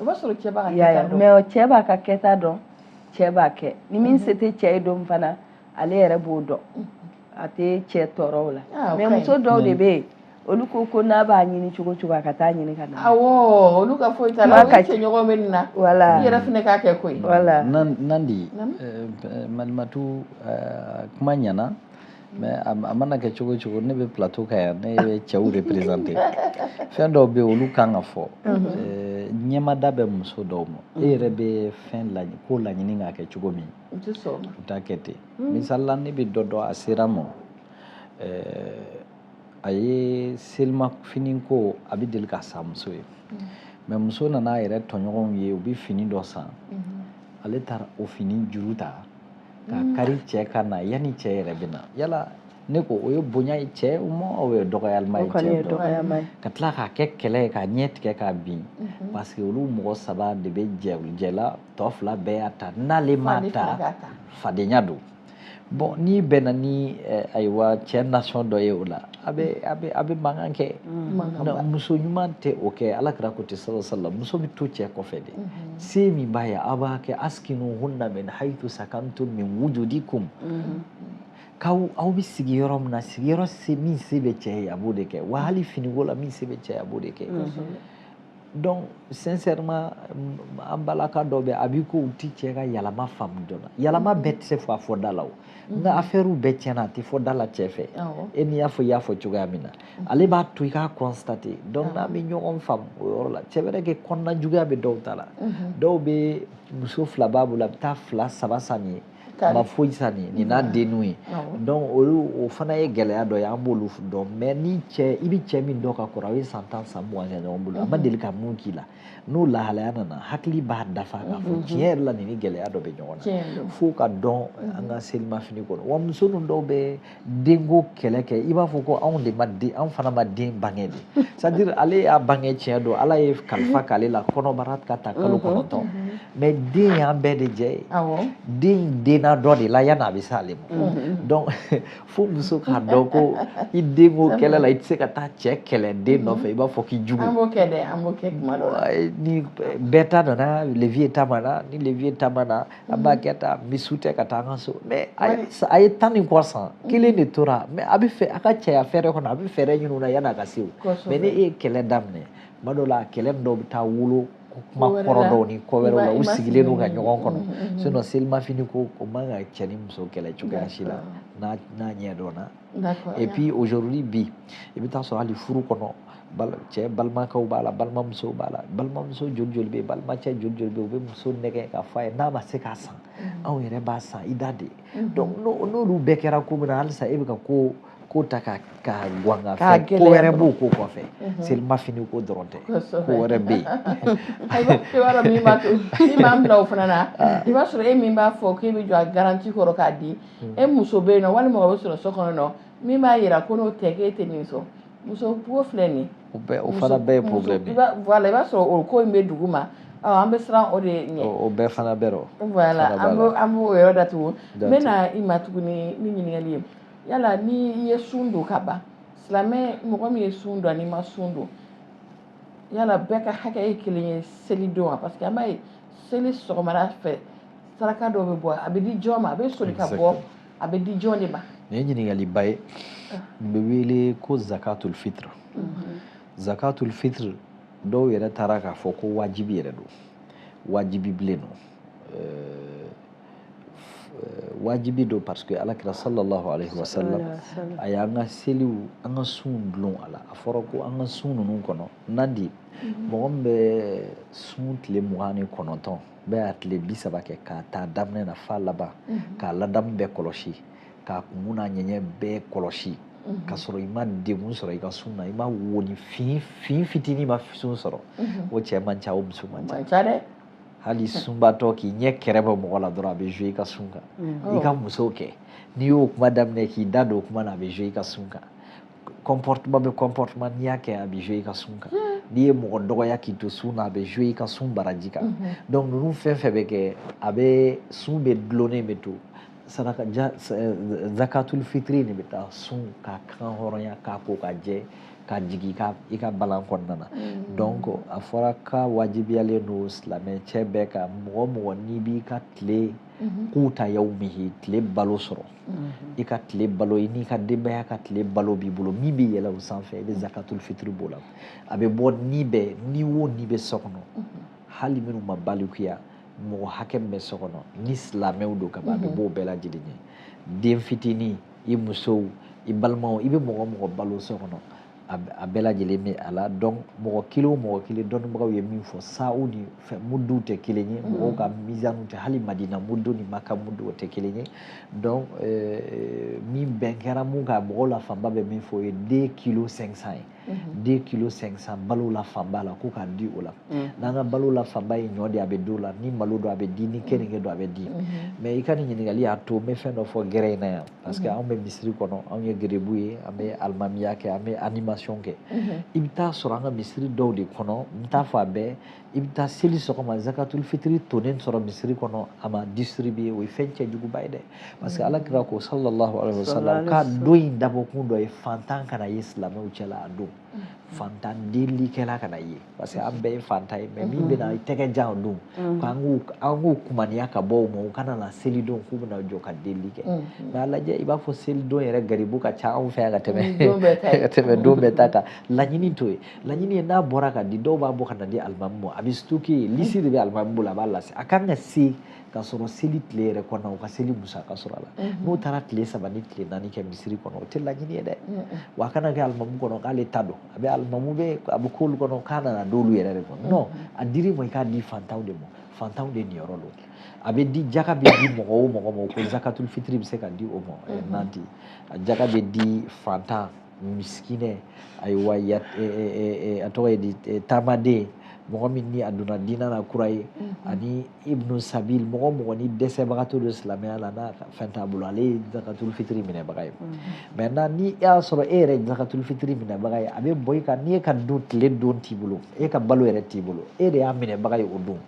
o b'a sɔrɔ cɛ b'a ka kɛta dɔn mais cɛ b'a ka kɛta dɔn cɛ b'a kɛ ni min se tɛ cɛ ye don fana ale yɛrɛ b'o dɔn a tɛ cɛ tɔɔrɔ o la ah, mais muso dɔw de bɛ yen olu ko ko n'a b'a ɲini cogo cogo a ka taa ɲini ka na awɔ olu ka foyi t'a la u cɛ ɲɔgɔn bɛ nin na voilà i yɛrɛ fana k'a kɛ koyi voilà nandi eh, eh, malimatu eh, kuma ɲɛna mais a mana kɛ cogo cogo ne bɛ plateau kan yan ne bɛ cɛw représenter fɛn dɔw bɛ yen olu kan ka fɔ ɲɛmada bɛ muso dɔw ma e yɛrɛ bɛ fɛn laɲini ko laɲini k'a kɛ cogo min u t'a kɛ ten misali la ne bɛ dɔ dɔn a sera ma a ye selimafini ko a bɛ deli ka san muso ye mais muso nana a yɛrɛ tɔɲɔgɔnw ye u bɛ fini dɔ san ale taara o fini juru ta k'a kari cɛ kan na yanni cɛ yɛrɛ bɛ na yala ne ko o ye bonya ye cɛ ma o ye dɔgɔyalima ye cɛ dɔgɔyalima ye ka tila k'a kɛ kɛlɛ ye k'a ɲɛ tigɛ k'a bin mhm. parce que olu mɔgɔ saba de bɛ jɛ jɛla tɔ fila bɛɛ y'a ta n'ale m'a ta fadenya don bon n'i bɛnna ni eh, ayiwa cɛ nasɔn dɔ ye o la a bɛ a bɛ a bɛ mankan kɛ muso ɲuman tɛ o kɛ ala kira ko ten sallallahu alaihi wasallam muso bɛ to cɛ kɔfɛ de se min b'a ye a b'a kɛ askinuhunna min hayitu sakantum min wujudikum k'aw aw bɛ sigi yɔrɔ min na sigiyɔrɔ se min se bɛ cɛ ye a b'o de kɛ wa hali finiko la min se bɛ cɛ ye a b'o de kɛ donc sincèrement an balaka dɔ bɛ a b'i ko u ti cɛ ka yalama faamu joona yalama bɛɛ tɛ se fɔ a fɔ da la o nka afɛri bɛɛ tiɲɛ na a tɛ fɔ da la cɛ fɛ e n'i y'a fɔ i y'a fɔ cogoya min na ale b'a to i k'a constater donc n'an bɛ ɲɔgɔn faamu o yɔrɔ la c'est vrai que kɔnɔnajuguya bɛ dɔw ta la dɔw bɛ muso fila b'a bolo a bɛ taa fila saba san nin ye a ma foyi san nin nin n'a denninw ye donc olu o fana ye gɛlɛya dɔ ye an b'olu dɔn mais ni cɛ i bɛ cɛ min dɔn ka kɔrɔ aw ye san tan san mugan kɛ ɲɔgɔn bolo a ma mhm. deli ka mun k'i la n'o lahalaya nana hakili b'a dafa k'a fɔ mhm. tiɲɛ yɛrɛ la nin ni gɛlɛya dɔ bɛ ɲɔgɔn na fo ka don an ka selimafini kɔnɔ wa muso ninnu dɔw bɛ denko kɛlɛ kɛ i b'a fɔ ko anw de ma den anw fana ma den bange de c'est-à-dire ale y'a bange tiɲɛ don ala ye kalifa mhm. k'ale la kɔnɔbara ka ta kalo mhm. kɔnɔntɔn mhm. mais den y'an bɛɛ de jɛ ye den denna dɔ de la yanni a bɛ se ale ma donc fo muso k'a dɔn ko i denko kɛlɛ la i tɛ se ka taa cɛ kɛlɛ den nɔfɛ i b'a fɔ k'i jugu an b'o kɛ dɛ an b'o kɛ kuma dɔ la ni bɛɛ ta nana le vieux ta ma na ni le vieux ta ma na a b'a kɛ ta misiw tɛ ka taa an ka so mais a ye tan ni kɔ san kelen de tora mais a b'a fɛ a ka cɛya fɛɛrɛ kɔnɔ a bɛ fɛɛrɛ ɲinini na yanni a ka se o ma n'e ye kɛlɛ daminɛ tuma dɔw la kɛlɛ dɔw bɛ taa wolo kuma kɔrɔ dɔw ni ko wɛrɛw la u sigilen don ka ɲɔgɔn kɔnɔ sinon selimafini ko o man ka cɛ ni muso kɛlɛ cogoya si la n'a ɲɛ dɔnna et puis aujourd'hui bi i bɛ taa sɔrɔ hali furu kɔnɔ cɛ balimakɛw b'a la balimamusow b'a la balimamuso joli joli bɛ yen balimacɛ joli joli bɛ yen u bɛ muso nɛgɛ k'a fɔ a ye n'a ma se k'a san mm-hmm. anw yɛrɛ b'a san i da de mm-hmm. donc n'olu bɛɛ kɛra ko min na halisa e bɛ ka ko ko ta ka ka guwan ka fɛn ko wɛrɛ b'o ko kɔfɛ mm-hmm. selima fini ko dɔrɔn tɛ ko wɛrɛ bɛ yen ayiwa i b'a dɔn min b'a to min b'a minɛ o fana na ah. i b'a sɔrɔ e min b'a fɔ k'e bɛ jɔ a garanti kɔrɔ k'a di e muso bɛ yen nɔ walima o bɛ sɔrɔ so kɔnɔ nɔ min b'a yira ko n'o tɛ k'e tɛ nin sɔn muso ko filɛ nin o bɛɛ o fana bɛɛ ye problème ye voilà i b'a sɔrɔ o ko in bɛ dugu ma an bɛ siran o de ɲɛ o bɛɛ fana bɛ rɔ voilà an b'o an b'o yɔrɔ datugu n bɛ na i ma tuguni ni ɲininkali ye yala ni i ye sun don ka ban silamɛ mɔgɔ min ye sun don ani ma sun don yala bɛɛ ka hakɛ ye kelen ye seli don wa parce que an b'a ye seli sɔgɔmada fɛ saraka dɔw bɛ bɔ a bɛ di jɔn ma a bɛ soli ka bɔ a bɛ di jɔn de ma nin ye ɲininkaliba ye ah. nin bɛ wele ko zakatul fitr mhm. zakatul fitr dɔw yɛrɛ taara k'a fɔ ko wajibi yɛrɛ don wajibi bilen don euh, euh, wajibi don parce que ala kira sallallahu alaihi wa sallam a y'an ka seliw an ka sunw dulon a la a fɔra ko an ka sun ninnu kɔnɔna na mhm. mɔgɔ min bɛ sun tile mugan ni kɔnɔntɔn bɛɛ a tile bi saba kɛ k'a ta daminɛ na f'a laban k'a ladamu bɛɛ kɔlɔsi k'a kunkun n'a ɲɛɲɛ bɛɛ kɔlɔsi ka sɔrɔ i ma degun sɔrɔ i ka sun na i ma wonin fin fin fitinin ma sun sɔrɔ o cɛ man ca o muso man ca dɛ hali sunbatɔ k'i ɲɛ kɛrɛ bɔ mɔgɔ la dɔrɔn a bɛ jouer i ka sun kan i ka muso kɛ n'i y'o kuma daminɛ k'i da don o kuma na a bɛ jouer i ka sun kan comportement bɛ comportement n'i y'a kɛ a bɛ jouer i ka sun kan hmm. n'i ye mɔgɔ dɔgɔya k'i to sun na a bɛ jouer i ka sun baraji kan mhm. donc ninnu fɛn fɛn bɛ kɛ a bɛ sun bɛ dulonnen bɛ to saraka ja eh, zakatul fitiri de bɛ taa sun k'a kan hɔrɔnya k'a ko k'a jɛ k'a jigin i ka balan kɔnɔna na hmm. donc a fɔra k'a wajibiyalen don silamɛ cɛ bɛɛ kan mɔgɔ mɔgɔ n'i b'i ka tile mhm. kuta yawmihi tile balo sɔrɔ i ka tile balo i n'i ka denbaya ka tile balo b'i bolo min bɛ yɛlɛ o sanfɛ i bɛ zakatul fitiri b'o la a bɛ bɔ ni bɛɛ ni o ni bɛ so kɔnɔ hali minnu ma balikuya mɔgɔ hakɛ min bɛ so kɔnɔ ni silamɛw don ka ban a bɛ b'o bɛɛ lajɛlen ye den fitinin i musow i balimaw i bɛ mɔgɔ mɔgɔ balo so kɔnɔ a bɛɛ lajɛlen bɛ a la donc mɔgɔ kelen o mɔgɔ kelen dɔnnibagaw ye min fɔ saw ni fɛn muduw tɛ kelen ye mm-hmm. mɔgɔw ka mizaniw tɛ hali madina mudu ni maka mudu o tɛ kelen ye donc eh, min bɛn kɛra mun kan mɔgɔw la fanba bɛ min fɔ o ye deux kilos cinq cents ye mm-hmm. deux kilos cinq cents balo la fanba la ko k'a di o la mm-hmm. n'an ka balo la fanba ye ɲɔ de a bɛ di o la ni malo don a bɛ di ni keninge don a bɛ di mais i ka nin ɲininkali y'a to n bɛ fɛn dɔ fɔ gɛrɛ in na yan parce que mhm. anw bɛ misiri kɔnɔ anw ye gerebu ye an bɛ alimamiya kɛ an bɛ animation kɛ mhm. i bɛ taa sɔrɔ an ka misiri dɔw de kɔnɔ n t'a fɔ a bɛɛ i bɛ taa seli sɔgɔma zakatul fitiri tonnen sɔrɔ misiri kɔnɔ a ma distribuer o ye fɛn cɛjuguba ye dɛ parce que mhm. ala kira ko sallallahu alaihi wa sallam k'a don in dabɔkun dɔ ye fantan kana ye silamɛw cɛla a don fantan delikɛla kana ye parce que an bɛɛ ye fantan ye mais min bɛna i tɛgɛ jan o don k'an k'u kumaniya ka bɔ o ma u kana na selidon k'u bɛna jɔ ka deli kɛ mais a lajɛ i b'a fɔ selidon yɛrɛ garibu ka ca anw fɛ yan ka tɛmɛ don bɛɛ ta kan laɲini t'o ye laɲini ye n'a bɔra ka di dɔw b'a bɔ ka na di alimami ma a bɛ stocker lisi de bɛ alimami bolo a b'a lase a kan ka se ka sɔrɔ seli tile yɛrɛ kɔnɔ u ka seli musaka sɔrɔ a la n'u taara tile saba ni tile naani kɛ misiri kɔnɔ o tɛ laɲini ye dɛ wa a kana kɛ alimamu kɔnɔ k'ale ta don a bɛ alimamu bɛ a bɛ k'olu kɔnɔ k'a nana d'olu yɛrɛ de kɔnɔ non a dir'i ma i k'a di fantanw de ma fantanw de niyɔrɔ don a bɛ di jaka bɛ di mɔgɔ o mɔgɔ ma ko zakatul fitiri bɛ se ka di o ma nanti a jaka bɛ di fantan miskinɛ ayiwa ya a tɔgɔ ye di taamaden mɔgɔ min ni a donna diinɛ na kura ye ani ibnu sabili mɔgɔ mɔgɔ ni dɛsɛbagatɔ don silamɛya la n'a fɛn t'a bolo ale ye zakatul fitiri minɛbaga ye maintenant ni e y'a sɔrɔ e yɛrɛ ye zakatul fitiri minɛbaga ye a bɛ bɔ i kan n'i e ka don tile don t'i bolo e ka balo yɛrɛ t'i bolo e de y'a minɛbaga ye o don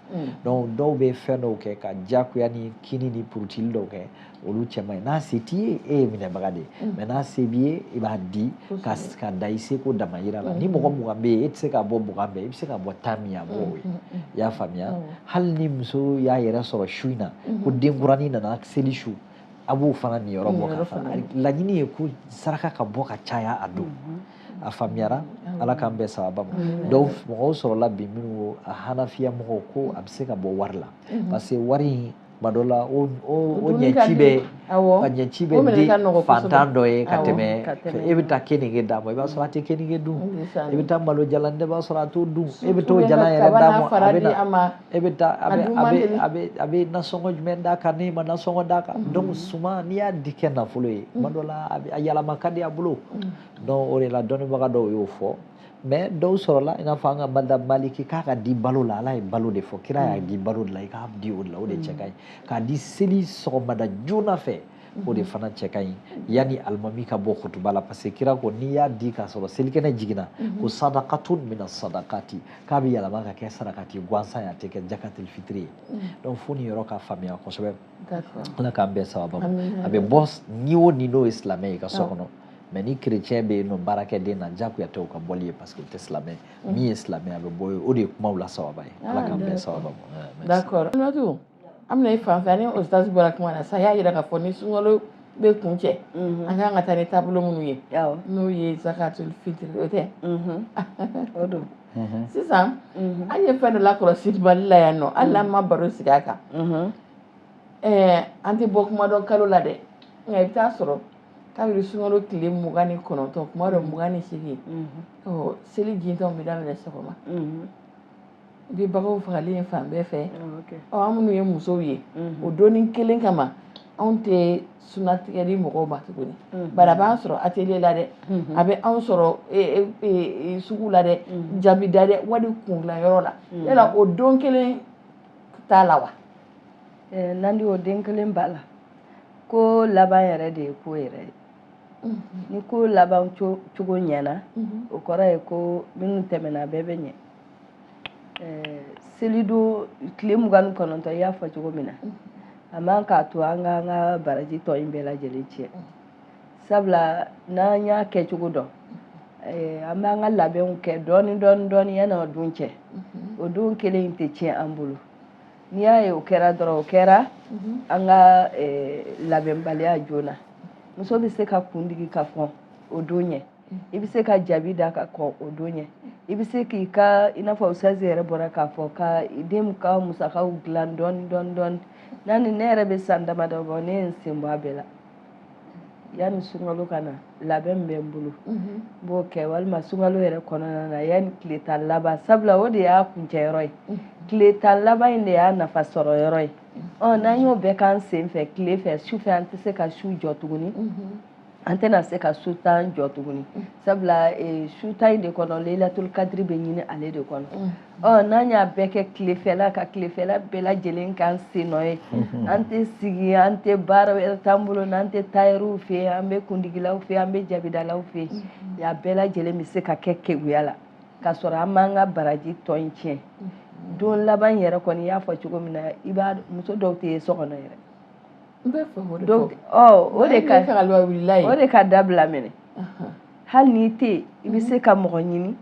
donc dɔw bɛ fɛn dɔw kɛ ka diyagoya ni kini ni purutili dɔw kɛ olu cɛ man ɲi n'a se t'i ye e ye minɛbaga de ye mm. mais n'a se b'i ye i b'a di ka da i seko damayira la ni mm. mɔgɔ mugan bɛ yen e tɛ se ka bɔ mugan bɛɛ i bɛ se ka bɔ tan min a b'o mm, ye i y'a faamuya hali ni muso y'a yɛrɛ sɔrɔ su in na ko denkuranin nana seli su a b'o fana niyɔrɔ bɔ ka fara laɲini ye ko saraka ka bɔ ka caya a don mm-hmm. a faamuyara ala k'an bɛɛ sababa mais dɔw mɔgɔw sɔrɔla bi minnu ko a hanafiya mɔgɔw ko a bɛ se ka bɔ wari la mm-hmm. parce que wari in tuma dɔ la o o o Dumuni ka ɲɛci di. bɛ Awɔ. a ɲɛci bɛ O minɛ di ka nɔgɔ kosɛbɛ. fantan dɔ ye ka Awɔ, tɛmɛ ka tɛmɛ. e bɛ taa kenige d'a ma i b'a sɔrɔ a tɛ kenige dun Ndeysaan. i bɛ taa malo jalan dɛ i b'a sɔrɔ a t'o dun e bɛ t'o Surtout jalan bɛ yɛrɛ kaba d'a n'a ma fara a bɛ di a na ma. e bɛ taa a A bɛ dun a man bɛ deli. a bɛ a bɛ nasɔngɔ jumɛn d'a kan n'i ma nasɔngɔ d'a kan donc suman n'i y'a di kɛ nafolo ye tuma dɔ la a bɛ a yɛlɛma ka di a bolo donc o de la dɔnnibaga dɔw y'o fɔ mais dɔw sɔrɔla i n'a fɔ an ka madhab maliki k'a ka di balo la ala ye balo de fɔ kira y'a di balo de la i k'a di o de la o de cɛ ka ɲi k'a di seli sɔgɔmada joona fɛ o de fana cɛ ka ɲi yanni alimami ka bɔ kutuba la parce que kira ko n'i y'a di k'a sɔrɔ selikɛnɛ jiginna ko sadakatun mina sadakati k'a bɛ yɛlɛma ka kɛ sarakati gansan ye a tɛ kɛ jakatul fitiri ye donc fo nin yɔrɔ ka faamuya kosɛbɛ ala k'an bɛɛ sababa a bɛ bɔ ni o ni n'o ye silamɛ ye i ka so kɔnɔ mais ni kerecɛn bɛ yen nɔ baarakɛden na jagoya tɛ u ka bɔli ye parce que u tɛ silamɛ mm. min ye silamɛ a bɛ bɔ ye o de ye kumaw la sababa ye ala ah, k'an bɛɛ sababa ma d'accord Aminatu an bɛna i fan fɛ ani ustaz bɔra kuma na sa y'a jira k'a fɔ ni sunkalo bɛ kuncɛ mm-hmm. an kan ka taa ni taabolo minnu ye n'o ye zakatul fitiri o tɛ mm-hmm. o don mm-hmm. sisan an ye fɛn dɔ lakɔlɔsi Mali la yan nɔ hali n'an ma baro sigi a kan eh, an tɛ bɔ kuma dɔ kalo la dɛ nka i bɛ taa sɔrɔ kabiri sunkalo tile mugan ni kɔnɔntɔn kuma dɔ mugan ni seegin seli jintɔ bɛ daminɛ sɔgɔma i bɛ baganw fagalen ye fan bɛɛ fɛ an minnu ye musow ye o don nin kelen kama anw tɛ sunatigɛli mɔgɔw ma tuguni bari a b'an sɔrɔ atelier la dɛ a bɛ anw sɔrɔ sugu la dɛ jabi da dɛ wali kungilanyɔrɔ la yala o don kelen t'a la wa Nandi o don kelen b'a la ko laban yɛrɛ de ye ko yɛrɛ ye ni ko laban cogo ɲɛna o kɔrɔ ye ko minnu tɛmɛna bɛɛ bɛ ɲɛ selidon tile mugan ni kɔnɔntɔn i y'a fɔ cogo min na a man k'a to an ka an ka baraji tɔ in bɛɛ lajɛlen tiɲɛ sabula n'an y'a kɛcogo dɔn an b'an ka labɛnw kɛ dɔɔni dɔɔni dɔɔni yanni o don cɛ o don kelen in tɛ tiɲɛ an bolo n'i y'a ye o kɛra dɔrɔn o kɛra mhm. an ka eh, labɛnbaliya joona muso bɛ se ka kundigi ka kɔn o don ɲɛ mhm. i bɛ se ka jabi da ka kɔn o don ɲɛ i bɛ se k'i ka i n'a fɔ ustazi yɛrɛ bɔra k'a fɔ ka den ka musakaw dilan dɔɔni dɔɔni dɔɔni n'a ni ne yɛrɛ bɛ san damadɔ bɔ ne ye n sen bɔ a bɛɛ la yanni sunkalo ka na labɛn min bɛ n bolo n b'o kɛ walima sunkalo yɛrɛ kɔnɔna na yanni tile tan laban sabula o de y'a kuncɛyɔrɔ ye tile tan laban in de y'a nafa sɔrɔ yɔrɔ ye n'an y'o bɛɛ k'an sen fɛ tile fɛ su fɛ an tɛ se ka su jɔ tuguni an tɛna se ka su tan jɔ tuguni sabula su tan in de kɔnɔ leyilatul kadiri bɛ ɲini ale de kɔnɔ ɔ n'an y'a bɛɛ kɛ tilefɛla ka tilefɛla bɛɛ lajɛlen k'an sen nɔ ye an tɛ sigi an tɛ baara wɛrɛ t'an bolo n'an tɛ tayɛriw fɛ yen an bɛ kundigilaw fɛ yen an bɛ jabidalaw fɛ yen a bɛɛ lajɛlen bɛ se ka kɛ keguya la k'a sɔrɔ an m'an ka baraji tɔ in tiɲɛ don laban yɛrɛ kɔni i y'a fɔ cogo min na i b'a muso dɔw tɛ ye so kɔnɔ yɛrɛ o de ka o de ka dabila minɛ hali n'i tɛ yen i bɛ se ka mɔgɔ ɲini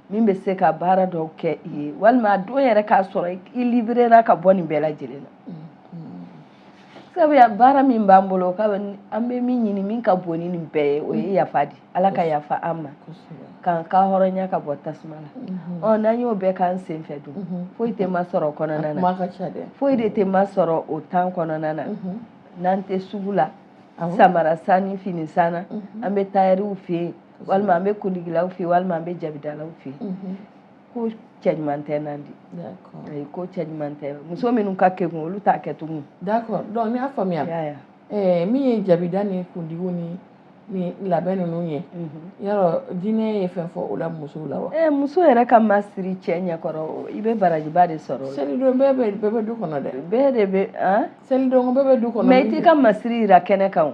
min bɛ se ka baara dɔw kɛ i ye walima a don yɛrɛ k'a sɔrɔ i libérera ka bɔ nin bɛɛ lajɛlen na mm-hmm. sabu baara min b'an bolo an bɛ min ɲini min ka bon ni nin bɛɛ ye o ye mm-hmm. yafa di ala ka yafa an ma k'an ka hɔrɔnya ka bɔ tasuma la mm-hmm. ɔ n'an y'o bɛɛ k'an senfɛ dun foyi tɛ ma sɔrɔ o kɔnɔna na foyi de tɛ ma sɔrɔ o temps kɔnɔna na n'an tɛ sugu la samara san ni fini san na an bɛ tayɛriw fɛ yen walima an bɛ kundigilaw fɛ walima an bɛ jabidalaw fɛ mhm. ko cɛ ɲuman tɛ nandi ayi ko cɛ ɲuman tɛ muso minnu ka kekun olu t'a kɛ tugun d'accord donc n y'a faamuya ɛɛ eh, min ye jabida ni kundigiw ni ni labɛn ninnu ye mhm. yala diinɛ ye fɛn fɔ o la musow la wa ɛɛ eh, muso yɛrɛ ka masiri cɛ ɲɛkɔrɔ i bɛ barajiba de sɔrɔ selidon bɛɛ bɛ bɛɛ bɛ du kɔnɔ dɛ bɛɛ de bɛ selidon bɛɛ bɛ du kɔnɔ mais i t'i ka masiri jira kɛnɛ kan o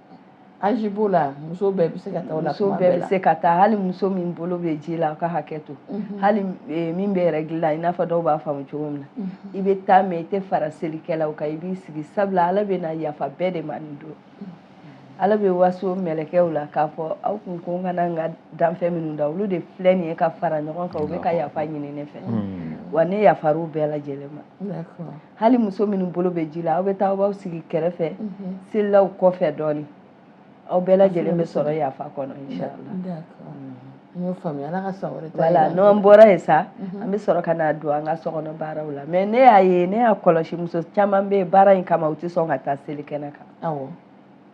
âge b'o la muso bɛɛ bɛ se ka taa o la muso bɛɛ bɛ se ka taa hali muso min bolo bɛ ji la aw ka hakɛ to mhm. hali eh, min bɛ règle la i n'a fɔ dɔw b'a faamu cogo min na mhm. i bɛ taa mais i tɛ fara selikɛlaw kan i b'i sigi sabula ala bɛ na yafa bɛɛ de ma nin don mhm. ala bɛ waso mɛlɛkɛw la k'a fɔ aw kun ko n kana n ka danfɛn minnu da olu de filɛ nin ye ka fara ɲɔgɔn kan u bɛ ka yafa ɲini ne fɛ wa ne yafar'u bɛɛ lajɛlen ma hali muso minnu bolo bɛ ji la aw bɛ taa aw b'aw sigi kɛrɛfɛ mhm. selilaw kɔfɛ dɔɔnin aw bɛɛ lajɛlen bɛ sɔrɔ yafa kɔnɔ inshallah n y'o faamuya ala ka san wɛrɛ ta voilà n'an bɔra yen sa mhm. an bɛ sɔrɔ ka na don an ka sokɔnɔ baaraw la mais ne y'a ye ne y'a kɔlɔsi muso caman bɛ baara in kama u tɛ sɔn ka taa seli kɛnɛ kan awɔ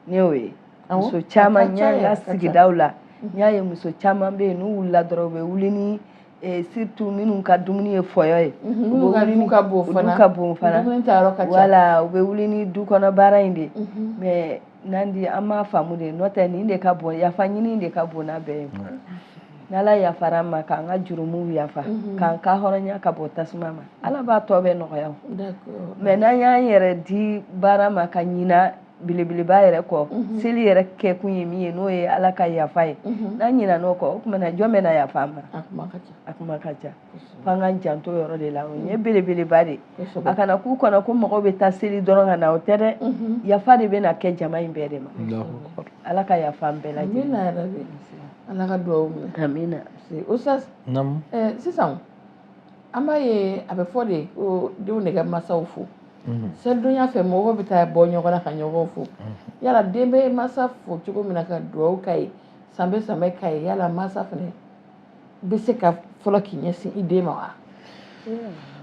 ne y'o ye muso caman n y'a ye n ka sigidaw la n y'a ye muso caman bɛ yen n'u wulila dɔrɔn u bɛ wuli ni Eh, surtout minnu ka dumuni ye fɔyɔ ye mhm, minnu ka du ka bon fana du ka bon fana dumuni ta yɔrɔ ka ca voilà u bɛ wuli ni du kɔnɔ baara in de mhm. mais nandi an m'a faamu de n'o tɛ nin de ka bon yafa ɲini de ka bon n'a bɛɛ ye n'ala yafara an ma k'an ka jurumuw yafa mhm. k'an ka hɔrɔnya ka bɔ tasuma ma ala b'a tɔ bɛɛ nɔgɔya mais n'an y'an yɛrɛ di baara ma ka ɲina belebeleba yɛrɛ kɔ mhm. seli yɛrɛ kɛ kun ye min ye n'o ye ala ka yafa ye mhm. n'an ɲinan'o kɔ o tuma na jɔn bɛna yafa an ma a kuma ka ca f'an k'an janto yɔrɔ de la o ye mhm. belebeleba de a kana k'u kɔnɔ ko mɔgɔw bɛ taa seli dɔrɔn ka na o tɛ dɛ yafa de bɛna kɛ jama in bɛɛ de ma ala ka yafa an bɛɛ lajɛlen ala ka dugawu minɛ amina ustaz sisan eh, an b'a ye a bɛ fɔ de ko denw de ka masaw fo selidonya fɛ mɔgɔw bɛ taa bɔ ɲɔgɔn na ka ɲɔgɔn fo yala den bɛ masa fo cogo min na ka dugawu k'a ye sanbɛ sanbɛ k'a ye yala masa fana bɛ se ka fɔlɔ k'i ɲɛsin i den ma wa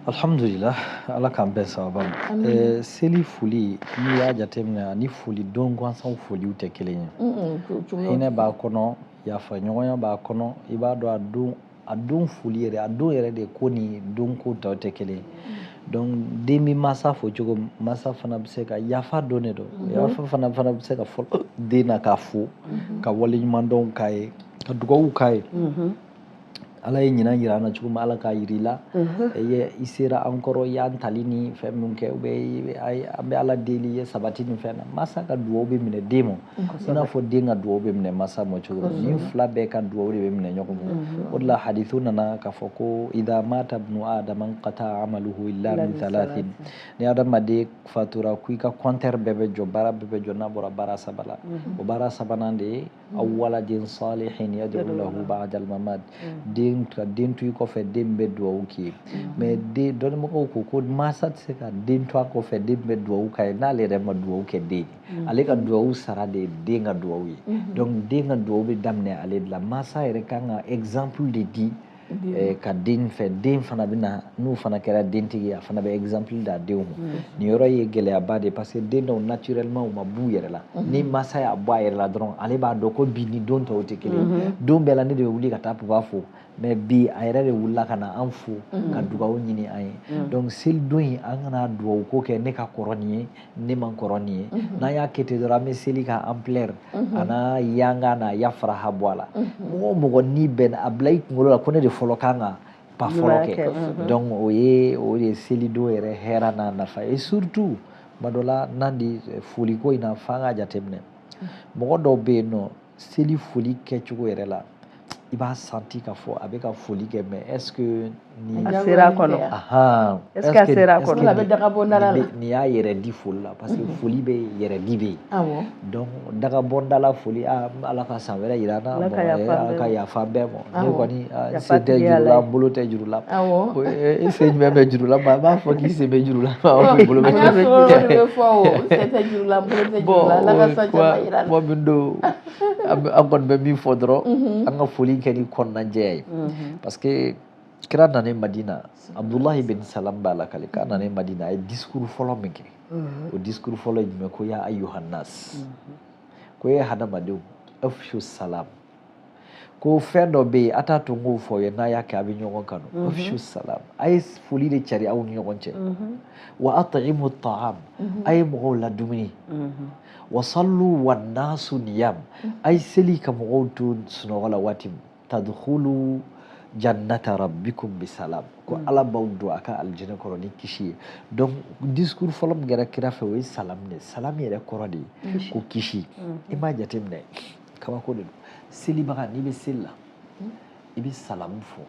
alhamdulila ala k'an bɛɛ sababa ma seli foli n'i y'a jateminɛ ani foli don gansanw foliw tɛ kelen ye hinɛ b'a kɔnɔ yafa ɲɔgɔnya b'a kɔnɔ i b'a dɔn a don a don foli yɛrɛ a don yɛrɛ de ko ni don ko tɔw tɛ kelen donc den bɛ mansa fo cogo min mansa fana bɛ se ka yafa don de don mhm. yafa fana fana bɛ se ka fɔlɔ den na k'a fo mhm. ka wale ɲuman dɔn k'a ye ka dugawu k'a ye mhm. ala ye ɲinan yira an na cogo min ala k'a yiri la ye i sera an kɔrɔ i y'an tali ni fɛn min kɛ u bɛ an bɛ ala deli i ye sabati ni fɛn na mansa ka dugawu bɛ minɛ den ma i n'a fɔ den ka dugawu bɛ minɛ masa ma cogo min nin fila bɛɛ ka dugawu de bɛ minɛ ɲɔgɔn ma mhm. o de la hadithu nana k'a fɔ ko idha mata ibnu adama inqata amaluhu illa min thalathin ni adamaden fatura ko i ka compteur bɛɛ bɛ jɔ baara bɛɛ bɛ jɔ n'a bɔra baara saba la mhm. o baara sabanan de ye mhm. aw waladin salihin yad'u lahu ba'dal mamat den ka den to i kɔfɛ den bɛ dugawu k'i ye mais den dɔnnibagaw ko ko masa tɛ se ka den to a kɔfɛ den bɛ dugawu k'a ye n'ale yɛrɛ ma dugawu kɛ den ye Mm. ale ka duwawu sara de ye den ka duwawu ye mm-hmm. donc den ka duwawu bɛ daminɛ ale de la mansa yɛrɛ kan ka exemple de di eh, ka den fɛ den fana bɛ na n'o fana kɛra dentigi ye a fana bɛ exemple d'a denw ma mm. nin yɔrɔ ye gɛlɛyaba de ye parce que den dɔw naturellement u ma b'u yɛrɛ la mm-hmm. ni mansa y'a bɔ a yɛrɛ la dɔrɔn ale b'a dɔn ko bi ni don tɔw tɛ kelen ye mm-hmm. don bɛɛ la ne de bɛ wuli ka taa papa fo mais bi a yɛrɛ de wulila ka na an fo mm. ka dugawu ɲini an ye mm. donc selidon in an kana dugawu ko kɛ ne ka kɔrɔ nin ye ne man kɔrɔ nin ye mm-hmm. n'an y'a kɛ ten dɔrɔn an bɛ seli ka ampleur mm-hmm. an'a yanga n'a ya faraha bɔ a la mm-hmm. mɔgɔ o mɔgɔ n'i bɛn'a bila i kunkolo la ko ne de fɔlɔ kan ka pas fɔlɔ kɛ donc o ye o de ye selidon yɛrɛ hɛra n'a nafa ye surtout tuma dɔ la n'an di eh, foliko in na f'an k'a jateminɛ mɔgɔ dɔw bɛ yen nɔ seli foli kɛcogo yɛrɛ la i b'a senti k'a fɔ a bɛ ka foli kɛ mais est-ce que ni a sera kɔnɔ est-ce que a sera kɔnɔ a bɛ dagabɔ dala la nin y'a yɛrɛ di foli la parce que mhm. foli bɛ yɛrɛ di bɛ yen donc dagabɔ dala foli ala ka san wɛrɛ yira an na ala ka yafa an bɛɛ ma ne kɔni n sen tɛ juru la n bolo tɛ juru la i sen jumɛn bɛ juru la a b'a fɔ k'i sen bɛ juru la n bolo bɛ juru la bon min don an kɔni bɛ min fɔ dɔrɔn an ka foli kɛ ni kɔnɔnajɛya ye parce que kira nanen madina abdullahi bin salam b'a lakali k'a nanen madina a ye discours fɔlɔ min kɛ o discours fɔlɔ ye jumɛn ko ya ayyuhannas ko ye hadamadenw afshu salam ko fɛn dɔ bɛ yen a t'a to n k'o fɔ a ye n'a y'a kɛ a bɛ ɲɔgɔn kanu mhm. afshu salam a ye foli de cari aw ni ɲɔgɔn cɛ mhm. wa at'imu ta'am mhm. a ye mɔgɔw ladumuni wa sallu wan nasu niyam a ye seli ka mɔgɔw to sunɔgɔ la waati min tadkhulu jannata rabbikum bisalam ko ala b'aw don a ka alijinɛ kɔnɔ ni kisi ye donc discours fɔlɔ min kɛra kira fɛ o ye salam de salam yɛrɛ kɔrɔ de ye ko kisi i m'a jateminɛ kabako de don selibaga n'i bɛ seli la hmm. i bɛ salamu fɔ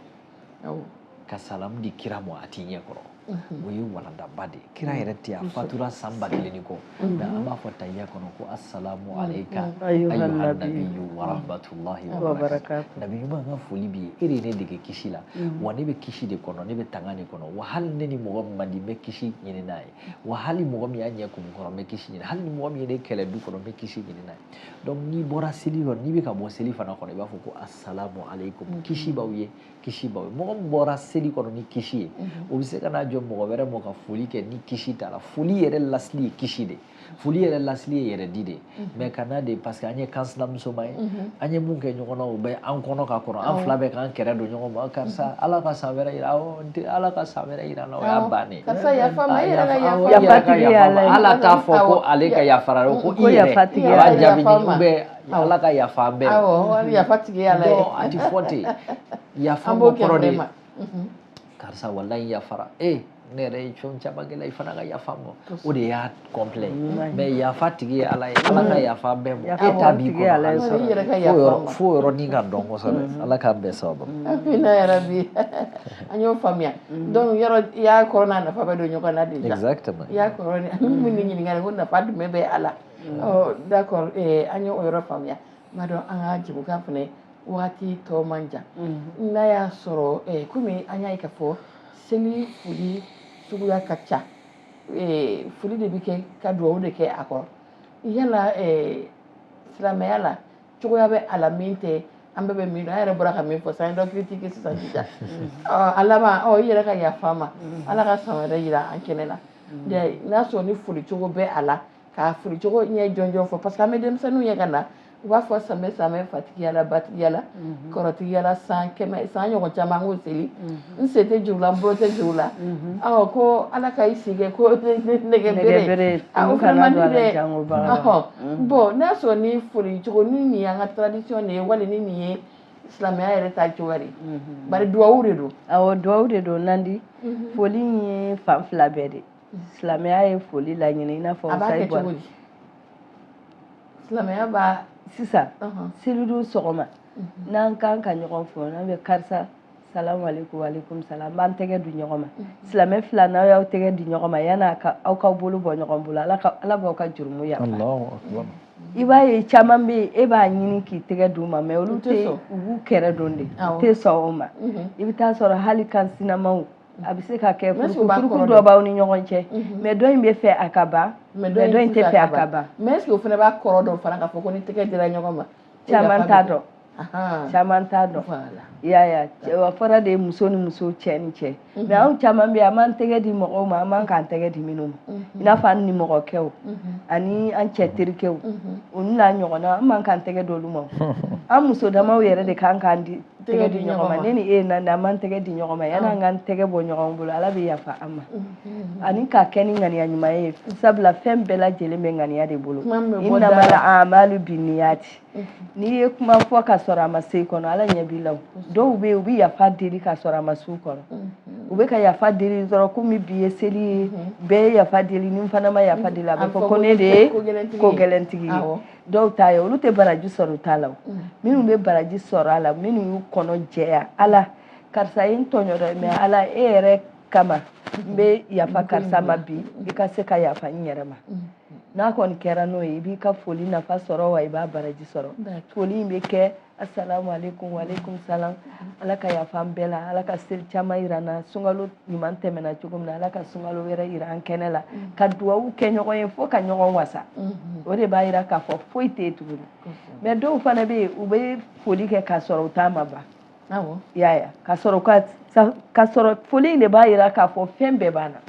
ka salamu di kira ma a t'i ɲɛ kɔrɔ mhm. o ye walandaba de ye kira yɛrɛ tɛ a fatura san ba kelen ni kɔ mhm. mais an b'a fɔ tahiya kɔnɔ ko asalamu mhm. aleyika ayyuhannabiyu warahmatulahi wabarakatu nabi ɲuman ka foli b'i ye e de ye ne dege kisi la wa ne bɛ kisi de kɔnɔ ne bɛ tanga de kɔnɔ wa hali ne ni mɔgɔ min man di n bɛ kisi ɲini n'a ye wa hali mɔgɔ min y'a ɲɛ kumu kɔrɔ n bɛ kisi ɲini hali ni mɔgɔ min ye ne kɛlɛ du kɔnɔ n bɛ kisi ɲini n'a ye donc n'i bɔra seli kɔnɔ n'i bɛ ka bɔ seli fana kɔnɔ i b'a fɔ ko asalamu aleykum mm-hmm. kisi b'aw ye kisi b'aw ye mɔgɔ min bɔra seli kɔnɔ ni kisi ye mm-hmm. o bɛ se ka n'a jɔ mɔgɔ wɛrɛ ma ka foli kɛ ni kisi t'a la foli yɛrɛ lasili ye kisi de foli yɛrɛ lasili ye hɛrɛ di de mm-hmm. mais ka n'a de parce que an ye kansinamusoma ye an ye mun kɛ ɲɔgɔn na o bɛ an kɔnɔ ka kɔrɔ an fila bɛ k'an kɛrɛ don ɲɔgɔn ma karisa ala ka san wɛrɛ yira awɔ tɛ ala ka san wɛrɛ jira an na o y'a bannen ale t'a fɔ ko ale ka yafara ko i yɛrɛ b'a jaabi i bɛ ala ka yafa an bɛɛ ma a tɛ fɔ ten yafa n ma kɔrɔ de karisa walayi n yafara e ne yɛrɛ ye jɔn caman kɛ i la i fana ka yafa n ma o de y'a complet mais yafa tigi ye ala ye ala ka yafa bɛɛ ma e ta b'i kɔnɔ fo yɔrɔ nin ka dɔn kosɛbɛ ala k'an bɛɛ sababu amina yarabi an y'o faamuya donc yɔrɔ i y'a kɔrɔ n'a nafa bɛ don ɲɔgɔn na déjà exactement i y'a kɔrɔ min ni ɲininkali ko nafa jumɛn bɛ a la d'accord an y'o yɔrɔ faamuya n b'a dɔn an ka jɛmukan fana wagati tɔ man jan n'a y'a sɔrɔ komi an y'a ye k'a fɔ seli foli suguya ka ca ee foli de bɛ kɛ ka dugawu de kɛ a kɔrɔ yala ee silamɛya la cogoya bɛ a la min tɛ an bɛɛ bɛ min dɔn an yɛrɛ bɔra ka min fɔ sisan dɔ critique sisan sisan a laban ɔ i yɛrɛ ka yafa ma ala ka san wɛrɛ jira an kɛnɛ na n'a sɔrɔ ni foli cogo bɛ a la ka foli cogo ɲɛ jɔnjɔn fɔ parce que an bɛ denmisɛnninw ye ka na u b'a fɔ sanbɛ sanbɛ fatigiyala batigiyala mhm. kɔrɔtigiyala san kɛmɛ san ɲɔgɔn caman k'o seli mhm. n sen tɛ jɛ o la n bolo tɛ jɛ o la mhm. awɔ ko ala ka i si kɛ ko nɛgɛ bere o fana man di dɛ bon n'a sɔrɔ ni foli cogo ni nin y'an ka tradition de ye wali ni nin ye silamɛya yɛrɛ ta cogoya de bari duwawu de don awɔ duwawu de don nandi foli in ye fan fila bɛɛ de silamɛya ye foli laɲini i n'a fɔ sayi bɔra silamɛya b'a sisan selidon sɔgɔma mhm. n'an kan ka ɲɔgɔn fo n'an bɛ karisa salamu aleykum aleykum salam an b'an tɛgɛ di ɲɔgɔn ma mhm. silamɛ fila n'aw y'aw tɛgɛ di ɲɔgɔn ma yanni aw ka bolo bɔ ɲɔgɔn bolo ala b'aw ka jurumu yafa i b'a ye caman bɛ yen e b'a ɲini k'i tɛgɛ d'u ma mais olu tɛ u b'u kɛrɛ don de u tɛ sɔn o ma mhm. i bɛ taa sɔrɔ hali kansinamaw a bɛ se ka kɛ furukufuruku dɔ b'aw ni ɲɔgɔn cɛ mhm. mais dɔ in bɛ fɛ a ka ban mais dɔ in tɛ fɛ a ka ban mais est-ce que o fana b'a kɔrɔ dɔn fana k'a fɔ ko ni tɛgɛ dira ɲɔgɔn ma caman t'a dɔn caman t'a dɔn i y'a ye a fɔra de muso ni muso cɛ ni cɛ mhm. mais anw caman bɛ yen an b'an tɛgɛ di mɔgɔw ma an man kan k'an tɛgɛ di minnu ma mhm. i n'a fɔ an nimɔgɔkɛw ani an cɛ terikɛw olu n'a ɲɔgɔnna an man kan k'an tɛgɛ d'olu ma an muso damaw yɛrɛ de kan k'an di tɛgɛ di ɲɔgɔn ma ne ni e Nandi an b'an tɛgɛ di ɲɔgɔn ma yanni an k'an tɛgɛ bɔ ɲɔgɔn bolo ala bɛ yafa an ma ani k'a kɛ ni ŋaniya ɲuman ye sabula fɛn bɛɛ lajɛlen bɛ ŋaniya de bolo innamal a'malu binniyati n'i ye kuma fɔ ka sɔrɔ a ma se i kɔnɔ ala ɲɛ b'i la dɔw bɛ yen u bɛ yafa deli ka sɔrɔ a ma s'u kɔnɔ u bɛ ka yafa deli dɔrɔn komi bi ye seli ye bɛɛ ye yafa deli ni n fana ma yafa deli a bɛ fɔ ko ne de ye ko gɛlɛntigi ye dɔw ta ye olu tɛ baraji sɔrɔ u ta la mm. minnu bɛ baraji sɔrɔ a la minnu y'u kɔnɔ jɛya ala karisa ye n tɔɲɔ dɛ mais mm. ala e yɛrɛ kama n bɛ yafa mm. karisa ma bi i ka se ka yafa n yɛrɛ ma n'a kɔni kɛra n'o ye i b'i ka foli nafa sɔrɔ wa i b'a baraji sɔrɔ foli in bɛ kɛ Assalamu alaikum wa alaikum salam. Ala ka yafa an bɛɛ la, Ala ka seli caman yira an na, sunkalo ɲuman tɛmɛna cogo min na, Ala ka sunkalo wɛrɛ yira an kɛnɛ la, mm. ka duwawu kɛ ɲɔgɔn ye fo ka ɲɔgɔn wasa. Mm-hmm. O de b'a yira k'a fɔ foyi tɛ yen tuguni. Mais dɔw fana bɛ yen, u bɛ foli kɛ k'a sɔrɔ u ta ma ban. Awɔ. I y'a ye wa? K'a sɔrɔ u ka, k'a sɔrɔ foli in de b'a yira k'a fɔ fɛn bɛɛ banna.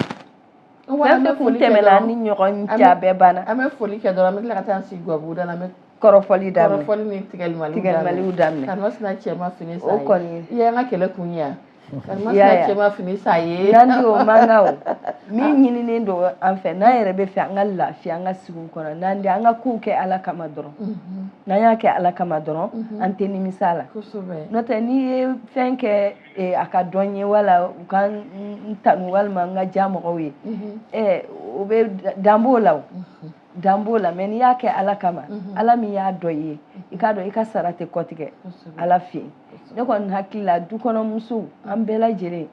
Fɛn kun tɛmɛna an ni ɲɔgɔn cɛ a bɛɛ banna an bɛ foli kɛ dɔrɔn an bɛ tila ka taa an sigi gabugu da la an bɛ kɔrɔfɔli daminɛ kɔrɔfɔli ni tigɛli tigɛliw daminɛ karimasina cɛ ma fini san i ye an ka kɛlɛ kun ye yan karimasina cɛ ma fini san i ye Nandi o man kan o min ɲininen don an fɛ n'an yɛrɛ bɛ fɛ an ka lafiya an ka sigi kɔnɔ Nandi an ka kow kɛ ala kama dɔrɔn n'an y'a kɛ ala kama dɔrɔn an tɛ nimisa a la n'o tɛ n'i ye fɛn kɛ ee a ka dɔn n ye wala u ka n tanu walima n ka diya mɔgɔw ye ɛɛ o bɛ dan b'o la o dan b'o la mais n'i y'a kɛ ala kama ala min y'a dɔn i ye i k'a dɔn i ka sara tɛ kɔtigɛ ala fɛ yen ne kɔni hakili la dukɔnɔmusow an bɛɛ lajɛlen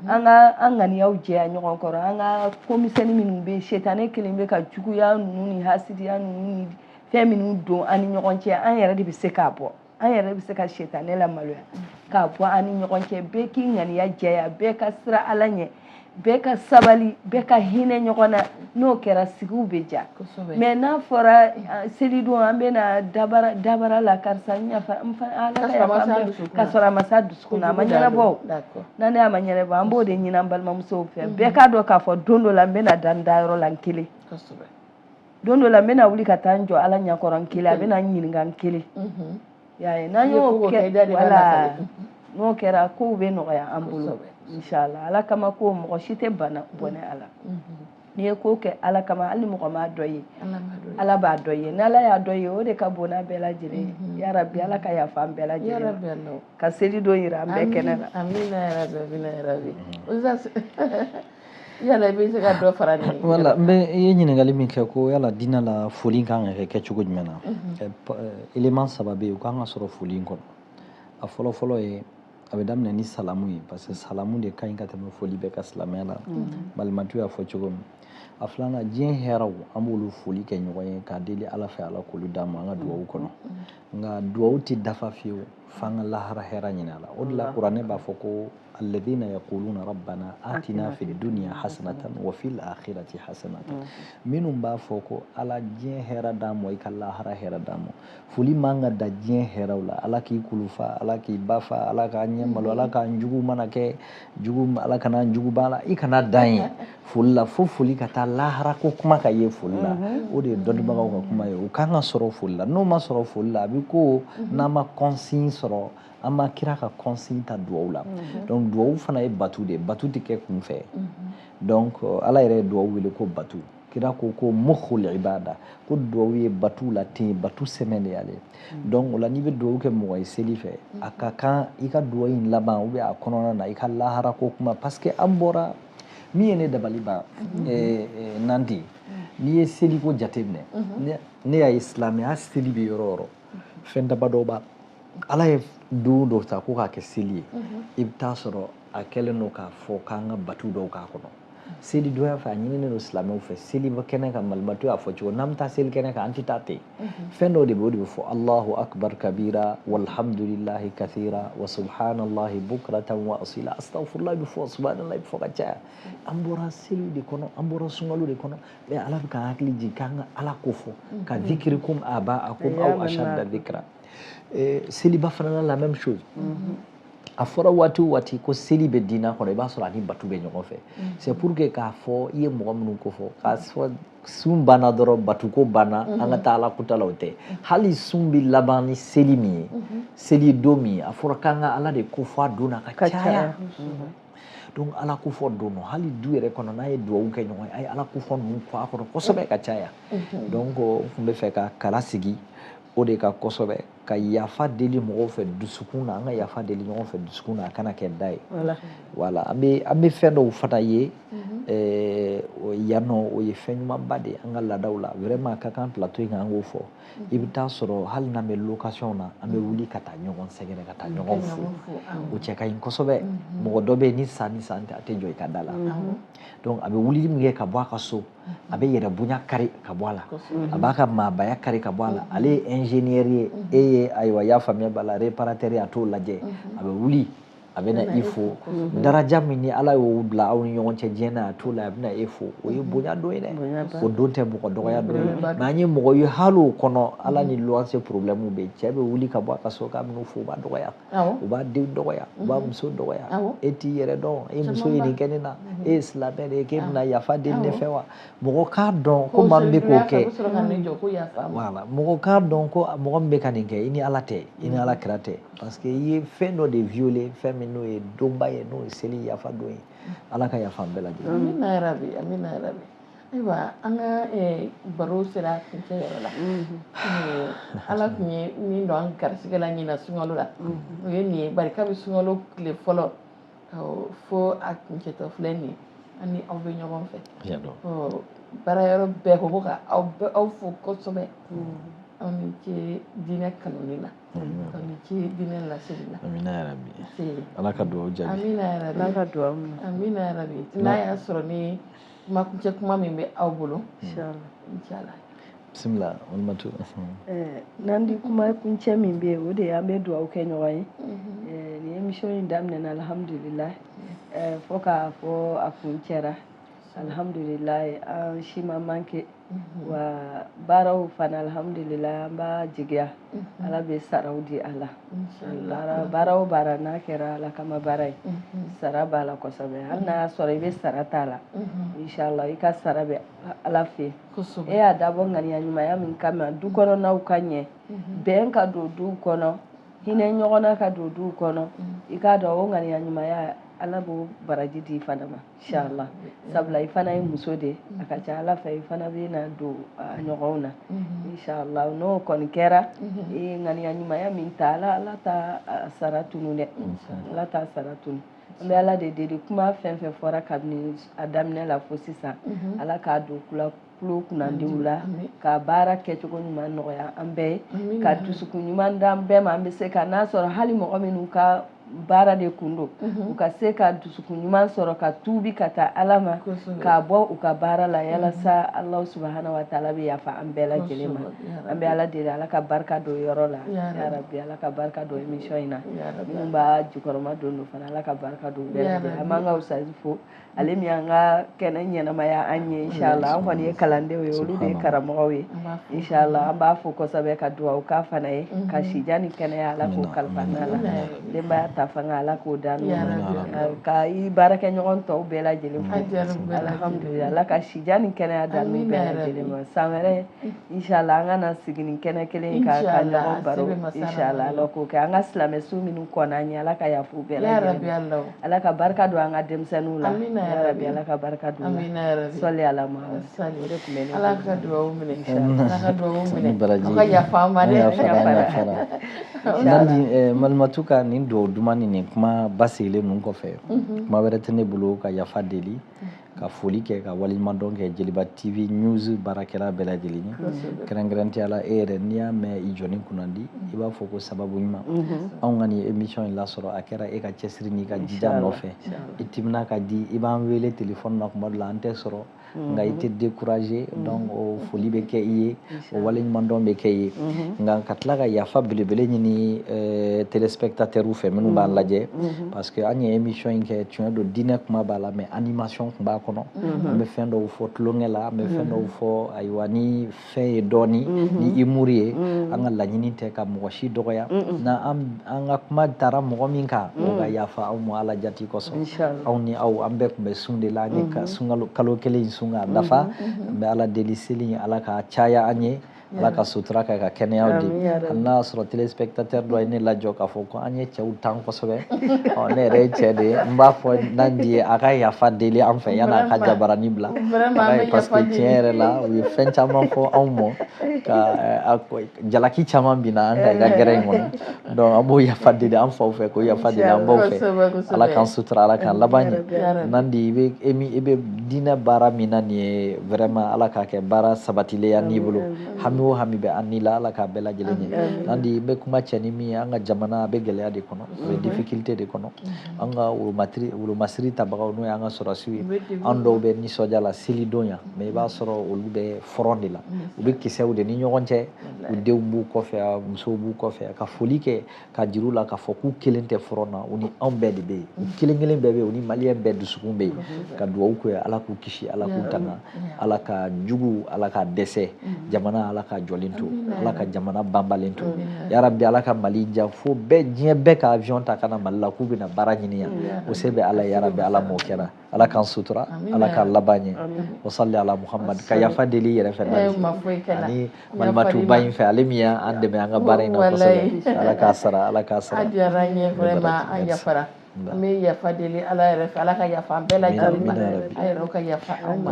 an ka an ŋaniyaw jɛya ɲɔgɔn kɔrɔ an ka komisɛni minnu bɛ yen setanɛ kɛlen bɛ ka juguya ninnu ni hasidiya ninnu ni fɛn minnu don an ni ɲɔgɔn cɛ an yɛrɛ de bɛ se k'a bɔ an yɛrɛ bɛ se ka setanɛ lamaloya k'a bɔ an ni ɲɔgɔn cɛ bɛɛ k'i ŋaniya jɛya bɛɛ ka siran ala ɲɛ bɛɛ ka sabali bɛɛ ka hinɛ ɲɔgɔn na n'o kɛra sigiw bɛ diya mais n'a fɔra selidon an bɛna dabara la karisa ka sɔrɔ a ma s'a dusukun na a ma ɲɛnabɔ Nandi a ma ɲɛnabɔ an b'o de ɲini an balimamusow fɛ bɛɛ k'a dɔn k'a fɔ don dɔ la n bɛna da n dayɔrɔ la n kelen don dɔ la n bɛna wuli ka taa n jɔ ala ɲɛkɔrɔ n kelen a bɛna n ɲininka n kelen y'a ye n'an y'o kɛ wala n'o kɛra kow bɛ nɔgɔya an bolo inshallah ala kama ko mɔgɔ si tɛ bana bɔnɛ a la n'i ye ko kɛ ala kama hali mɔgɔ m'a dɔn i ye ala b'a dɔn i ye ni ala y'a dɔn i ye o de ka bon n'a bɛɛ lajɛlen ye ya rabi ala ka yafa an bɛɛ lajɛlen ka seli don yira an bɛɛ kɛnɛ na yala i bɛ se ka dɔ fara nin wala n bɛ i ye ɲininkali min kɛ ko yala diinɛ la foli ka kan ka kɛ kɛcogo jumɛn na élément saba bɛ yen o kan ka sɔrɔ foli in kɔnɔ a fɔlɔ fɔlɔ ye a bɛ daminɛ ni salamu ye parce que salamu de ka ɲi ka tɛmɛ foli bɛɛ kan silamɛya la malimatu y'a fɔ cogo min a filanan diɲɛ hɛrɛw an b'olu foli kɛ ɲɔgɔn ye k'a deli ala fɛ ala k'olu d'an ma an ka duwawu kɔnɔ nka duwawu tɛ dafa fiyewu f'an ka lahara hɛra ɲini a la o de la kuranɛ b'a fɔ ko alladhina yaquluna rabbana atina fid dunya hasanatan wa fil akhirati hasanatan mm-hmm. minnu b'a fɔ ko ala diɲɛ hɛra d'an ma i ka lahara hɛra d'an ma foli man ka dan diɲɛ hɛraw la ala k'i kulufa ala k'i ba fa ala k'a ɲɛ malo ala k'an jugu mana kɛ jugu ala kana jugu b'a la i kana dan ye foli la fo foli ka taa lahara ko kuma ka ye foli la mhm. o de ye dɔnnibagaw ka kuma ye o kan ka sɔrɔ foli la n'o ma sɔrɔ foli la a bɛ ko mhm. n'an ma consigne sɔrɔ an ma kira ka consigne ta duwawu la mhm. donc duwawu fana ye batu de ye batu tɛ kɛ kunfɛ donc euh, ala yɛrɛ ye duwawu wele ko batu kira ko ko mukhul ibada ko duwawu ye batu la ten batu sɛmɛn de y'ale donc o la n'i bɛ duwawu kɛ mɔgɔ ye seli fɛ a ka kan i ka duwawu in laban ou bien a kɔnɔna na i ka lahara ko kuma parce que an bɔra min ye ne dabali ban nandi n'i ye seliko jateminɛ ne y'a ye silamɛya seli bɛ yɔrɔ o yɔrɔ fɛn damadɔ b'a ala ye don dɔ ta ko k'a kɛ seli ye i bɛ taa sɔrɔ a kɛlen don k'a fɔ k'an ka batu dɔw k'a kɔnɔ seli donya fɛ a ɲininen don silamɛw fɛ seli kɛnɛ kan malimatu y'a fɔ cogo n'an bɛ taa seli kɛnɛ kan an tɛ taa ten fɛn dɔ de bɛ o de bɛ fɔ allahu akbar kabira walhamdulilahi kathira wa subhanallahi bukratan wa asila astaghfirullah bɛ fɔ subhanallah bɛ fɔ ka caya an bɔra seliw de kɔnɔ an bɔra sunkalo de kɔnɔ mais ala bɛ k'an hakili jigin k'an ka ala ko fɔ kadhikrikum aba'akum aw ashadda dhikra seliba fana na la même chose a fɔra waati o waati ko seli bɛ diinɛ kɔnɔ i b'a sɔrɔ a ni batu bɛ ɲɔgɔn fɛ c'est pour que k'a fɔ i ye mɔgɔ minnu ko fɔ k'a fɔ sun banna dɔrɔn batuko banna an ka mhm. taa ala kuta la o tɛ mhm. hali sun bɛ laban ni seli min ye mhm. seli don min ye a fɔra k'an ka ala de ko fɔ a don na ka caya donc ala ko fɔ don hali du yɛrɛ kɔnɔ n'a ye duwawu kɛ ɲɔgɔn ye a ye ala ko fɔ ninnu fɔ a kɔnɔ kosɛbɛ ka caya donc n tun bɛ fɛ ka kala sigi o de kan kosɛbɛ ka yafa deli mɔgɔw fɛ dusukun na an ka yafa deli ɲɔgɔn fɛ dusukun na a kana kɛ da ye voilà an bɛ an bɛ fɛn dɔw fana ye mhm. eh, o yan nɔ o ye fɛn ɲumanba de ye an ka laadaw la vraiment a ka kan plateau in kan an k'o fɔ mhm. i bɛ taa sɔrɔ hali n'an bɛ location na an bɛ mhm. wuli ka taa ɲɔgɔn sɛgɛrɛ ka taa ɲɔgɔn fo o cɛ ka ɲi kosɛbɛ mɔgɔ dɔ bɛ yen ni san ni san tɛ a tɛ jɔ i ka da la donc a bɛ wulili min kɛ ka bɔ a ka so a bɛ yɛrɛ bonya kari ka bɔ a la a b'a ka maabaya kari ka bɔ a la mm-hmm. ale ye ingénieur ye mm-hmm. e ye ayiwa y'a faamuya b'a la réparateur a t'o lajɛ mm-hmm. a bɛ wuli a bɛ na i fo daraja min ni ala y'o bila aw ni ɲɔgɔn cɛ diɲɛ na a t'o la a bɛ na e fo o ye bonya dɔ ye dɛ o dun tɛ mɔgɔ dɔgɔya dɔ ye mais an ye mɔgɔ ye hali o kɔnɔ ala ni luwanse problème bɛ yen cɛ bɛ wuli ka bɔ a ka so k'a bɛn'u fo u b'a dɔgɔya u b'a den dɔgɔya u b'a muso dɔgɔya e t'i yɛrɛ dɔn e muso ye nin kɛ ne na e ye silamɛ de ye k'e bɛna yafa deli ne fɛ wa mɔgɔ k'a dɔn ko maa min bɛ k'o kɛ mɔgɔ k'a dɔn ko mɔgɔ min bɛ ka nin kɛ i ni ala tɛ i ni ala kira tɛ parce que i ye fɛn dɔ de violer fɛn min n'o ye donba ye n'o ye seli yafa don ye ala ka yafa an bɛɛ lajɛlen amina yarabi amina yarabi Ayiwa an ka baro sera kuncɛ yɔrɔ la ala tun ye min don an garisigɛ la ɲinan sunkalo la o ye nin ye bari kabi sunkalo tile fɔlɔ fo a kuncɛtɔ filɛ nin ye an ni aw bɛ ɲɔgɔn fɛ baara yɔrɔ bɛɛ ko ka aw fo kosɛbɛ aw ni ce diinɛ kanuni na aw ni ce diinɛ laseli la ala ka dugawu jaabi ala ka dugawu amina yarabi n'a y'a sɔrɔ ni kuma kuncɛ kuma min bɛ aw bolo inshallah bisimila walimatu n'an di kuma kuncɛ min bɛ yen o de ye an bɛ dugawu kɛ ɲɔgɔn ye nin émission in daminɛna alhamdulila fo k'a fɔ a kuncɛra alhamdulila an si ma manqué wa baaraw fana alihamudulila an b'a jigiya ala bɛ saraw di a la baara o baara n'a kɛra ala kama baara ye sara b'a la kosɛbɛ hali n'a y'a sɔrɔ i bɛ sara t'a la inshala i ka sara bɛ ala fɛ e y'a dabɔ ŋaniya ɲumanya min kama du kɔnɔnaw ka ɲɛ bɛn ka don duw kɔnɔ hinɛ ɲɔgɔnna ka don duw kɔnɔ i k'a dɔn o ŋaniya ɲumanya ala b'o baraji di i fana ma Inshala sabula i fana ye muso de a ka ca ala fɛ i fana bɛ na don a ɲɔgɔnw na inshala n'o kɔni kɛra e ŋaniya ɲumanya min ta ala ala t'a sara tunun dɛ ala t'a sara tunun an bɛ ala de deli kuma fɛn fɛn fɔra kabini a daminɛ la fo sisan ala k'a don kulu kunnandiw la ka baara kɛcogo ɲuman nɔgɔya an bɛɛ ye ka dusukun ɲuman d'an bɛɛ ma an bɛ se ka n'a sɔrɔ hali mɔgɔ minnu ka baara de kun don mhm. u ka se ka dusukun ɲuman sɔrɔ ka tuubi ka taa ala ma ka bɔ u ka baara la yalasa mhm. ala subahana wa taala bɛ yafa an bɛɛ lajɛlen ma an bɛ ala deli ala ka barika don yɔrɔ la yarabi ala ka barika don émission in na minnu b'a jukɔrɔma don don fana ala ka barika don bɛɛ lajɛlen an b'an ka ustazi fo ale min an ka kɛnɛ ɲɛnamaya an ye inshallah an kɔni ye kalandenw ye olu de ye karamɔgɔw ye inshallah an b'a fo kosɛbɛ ka dugawu k'a fana ye mhm. ka sija ni kɛnɛya ala k'o kalifa an n'a la denbaya ta fanga ala k'o da n'u ka i baarakɛ ɲɔgɔn tɔw bɛɛ lajɛlen fo alhamdulilayi ala ka sija ni kɛnɛya d'an n'u bɛɛ lajɛlen ma san wɛrɛ inshallah an ka na sigi nin kɛnɛ kelen in kan ka ɲɔgɔn baro inshallah ala k'o kɛ an ka silamɛ su minnu kɔnna an ye ala ka yafa u bɛɛ lajɛlen Ala ka barika don an ka denmisɛnninw la amina yarabi Ala ka barika don amina yarabi sɔli Ala Mahamadu sɔli o de tun bɛ ne Ala ka dugawu minɛ Ala ka dugawu minɛ aw ka yafa an ma dɛ Nandi eh, Malimatu ka nin dugawu duman ni nin kuma basigilen ninnu kɔfɛ mhm. kuma wɛrɛ tɛ ne bolo ka yafa deli ka foli kɛ ka waleɲumandɔn kɛ jeliba tv news baarakɛla bɛɛ lajɛlen ye kɛrɛnkɛrɛnnenya la e yɛrɛ n'i y'a mɛn i jɔni kunnandi i b'a fɔ ko sababu ɲuman mhm. anw ka nin émission in lasɔrɔ a kɛra e ka cɛsiri n'i ka jija nɔfɛ i timina ka di i b'an wele telefɔni na kuma dɔ la an tɛ sɔrɔ mhm. nka i tɛ décourager mhm. donc o foli bɛ kɛ i ye o waleɲumandɔn bɛ kɛ i ye mhm. nka ka tila ka yafa belebele ɲini eh, téléspectateurs fɛ minnu b'an mhm. lajɛ mhm. parce que an ye émission in kɛ tiɲɛ don diinɛ kuma b'a la mais animation tun b'a kɔnɔ an bɛ fɛn dɔw fɔ tulonkɛ la an bɛ fɛn dɔw fɔ ayiwa ni fɛn ye dɔɔni ni humour ye an ka laɲini tɛ ka mɔgɔ si dɔgɔya na an An ka kuma taara mɔgɔ min kan o ka yafa an ma ala jati kosɔn aw ni aw an bɛɛ tun bɛ sun de la an ye kalo kelen in sun ka dafa n bɛ ala deli seli ala ka caya an ye ala ka sutura kɛ ka kɛnɛya di hali n'a y'a sɔrɔ téléspectateur dɔ ye ne lajɔ k'a fɔ ko an ye cɛw tan kosɛbɛ ne yɛrɛ ye cɛ de ye n b'a fɔ Nandi ye a ka yafa deli an fɛ yann'a ka jabarani bila parce que tiɲɛ yɛrɛ la u ye fɛn caman fɔ anw ma ka a ko jalaki caman binna an kan i ka kɛnɛ in kɔnɔ donc an b'o yafa deli an faw fɛ k'o yafa deli an baw fɛ ala k'an sutura ala k'an laban ɲɛ nandi i bɛ e i bɛ diinɛ baara min na nin ye vraiment ala k'a kɛ baara sabatilen y'an n'i bolo hami o hami bɛ an n'i la ala k'a bɛɛ lajɛlen ɲɛ nandi n bɛ kuncɛ ni min ye an ka jamana a bɛ gɛlɛya de kɔnɔ a bɛ difficulté de kɔnɔ an ka wolomatiri wolomasiri tabagaw n'o y'an ka sɔrɔdasiw ye an dɔw bɛ nisɔndiya la selidon yan mais i b'a sɔrɔ olu bɛ front de la u bɛ kisɛw de ni ɲɔgɔn cɛ u denw b'u kɔfɛ a musow b'u kɔfɛ ka foli kɛ k'a jir'u la k'a fɔ k'u kelen tɛ front na u ni anw bɛɛ de bɛ yen u kelen kelen bɛɛ bɛ yen u ni maliyɛn bɛɛ dusukun bɛ yen ka dugawu kɛ ala k'u kisi ala k'u tanga ala ka jugu ala k'a dɛsɛ jamana ala k'a jɔlen to ala ka jamana banbalen to ya rabi ala ka mali diya fo bɛɛ diɲɛ bɛɛ ka avion ta ka na mali la k'u bɛna baara ɲini yan o se bɛ ala ya rabi ala m'o kɛra ala k'an sutura ala k'an laban ɲɛ wa sali ala muhamadu ka yafa deli yɛrɛ fɛ ani malimatuba in fɛ ale min y'an dɛmɛ an ka baara in na kosɛbɛ ala k'a sara ala k'a sara a diyara an ye vraiment an yafara an bɛ yafa deli ala yɛrɛ fɛ ala ka yafa an bɛɛ lajɛlen ma a yɛrɛ ka yafa an ma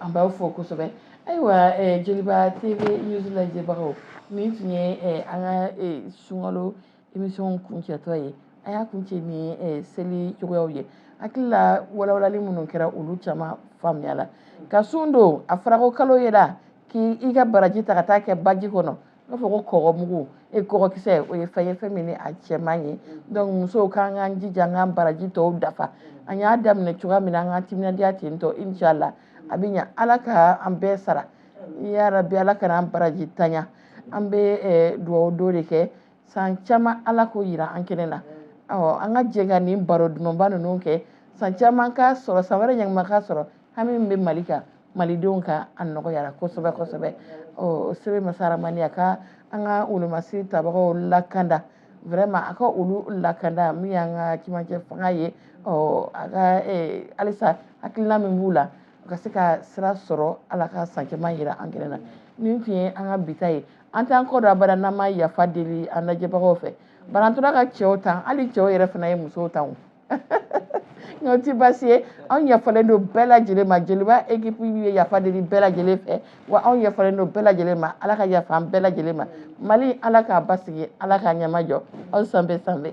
an b'aw fo kosɛbɛ ayiwa jeliba tv news lajɛbagaw nin tun ye an ka sunkalo émission kuncɛtɔ ye an y'a kuncɛ ni eh, seli cogoyaw ye hakili la walawalali minnu kɛra olu caman faamuyala ka sun don a fɔra ko kalo yela k'i i ka baraji ta ka taa kɛ baji kɔnɔ n'a fɔ ko kɔgɔmugu e kɔgɔkisɛ o ye fɛn ye fɛn min ni a cɛ man ɲi donc musow k'an k'an jija an k'an baraji tɔw dafa an y'a daminɛ cogoya min na an k'an timinandiya ten tɔ inshallah a bɛ ɲa ala ka an bɛɛ sara ya rabi ala kana an barajintanya an bɛ eh, dugawu dɔ de kɛ san caman ala k'o yira an kɛnɛ na ɔ an ka jɛ ka nin baro dumanba ninnu kɛ san caman k'a sɔrɔ san wɛrɛ ɲɛnama k'a sɔrɔ hami min bɛ mali kan malidenw kan a nɔgɔyara kosɛbɛ kosɛbɛ ɔ sebaa masa ramani a ka an ka wolomasi tabagaw lakanda vraiment a ka olu lakanda min y'an ka cɛmancɛ fanga ye ɔ a ka halisa hakilina min b'u la u ka se ka sira sɔrɔ ala ka san caman yira an kɛnɛ na nin tun ye an ka bi ta ye an t'an kɔ don abada n'an ma yafa deli an lajɛbagaw fɛ bari an tora ka cɛw tan hali cɛw yɛrɛ fana ye musow tan o nka o ti baasi ye anw yafalen don bɛɛ lajɛlen ma jeliba équipe ye yafa deli bɛɛ lajɛlen fɛ wa anw yafalen don bɛɛ lajɛlen ma ala ka yafa an bɛɛ lajɛlen ma mali ala k'a basigi ala k'a ɲɛmajɔ aw sanbɛ sanbɛ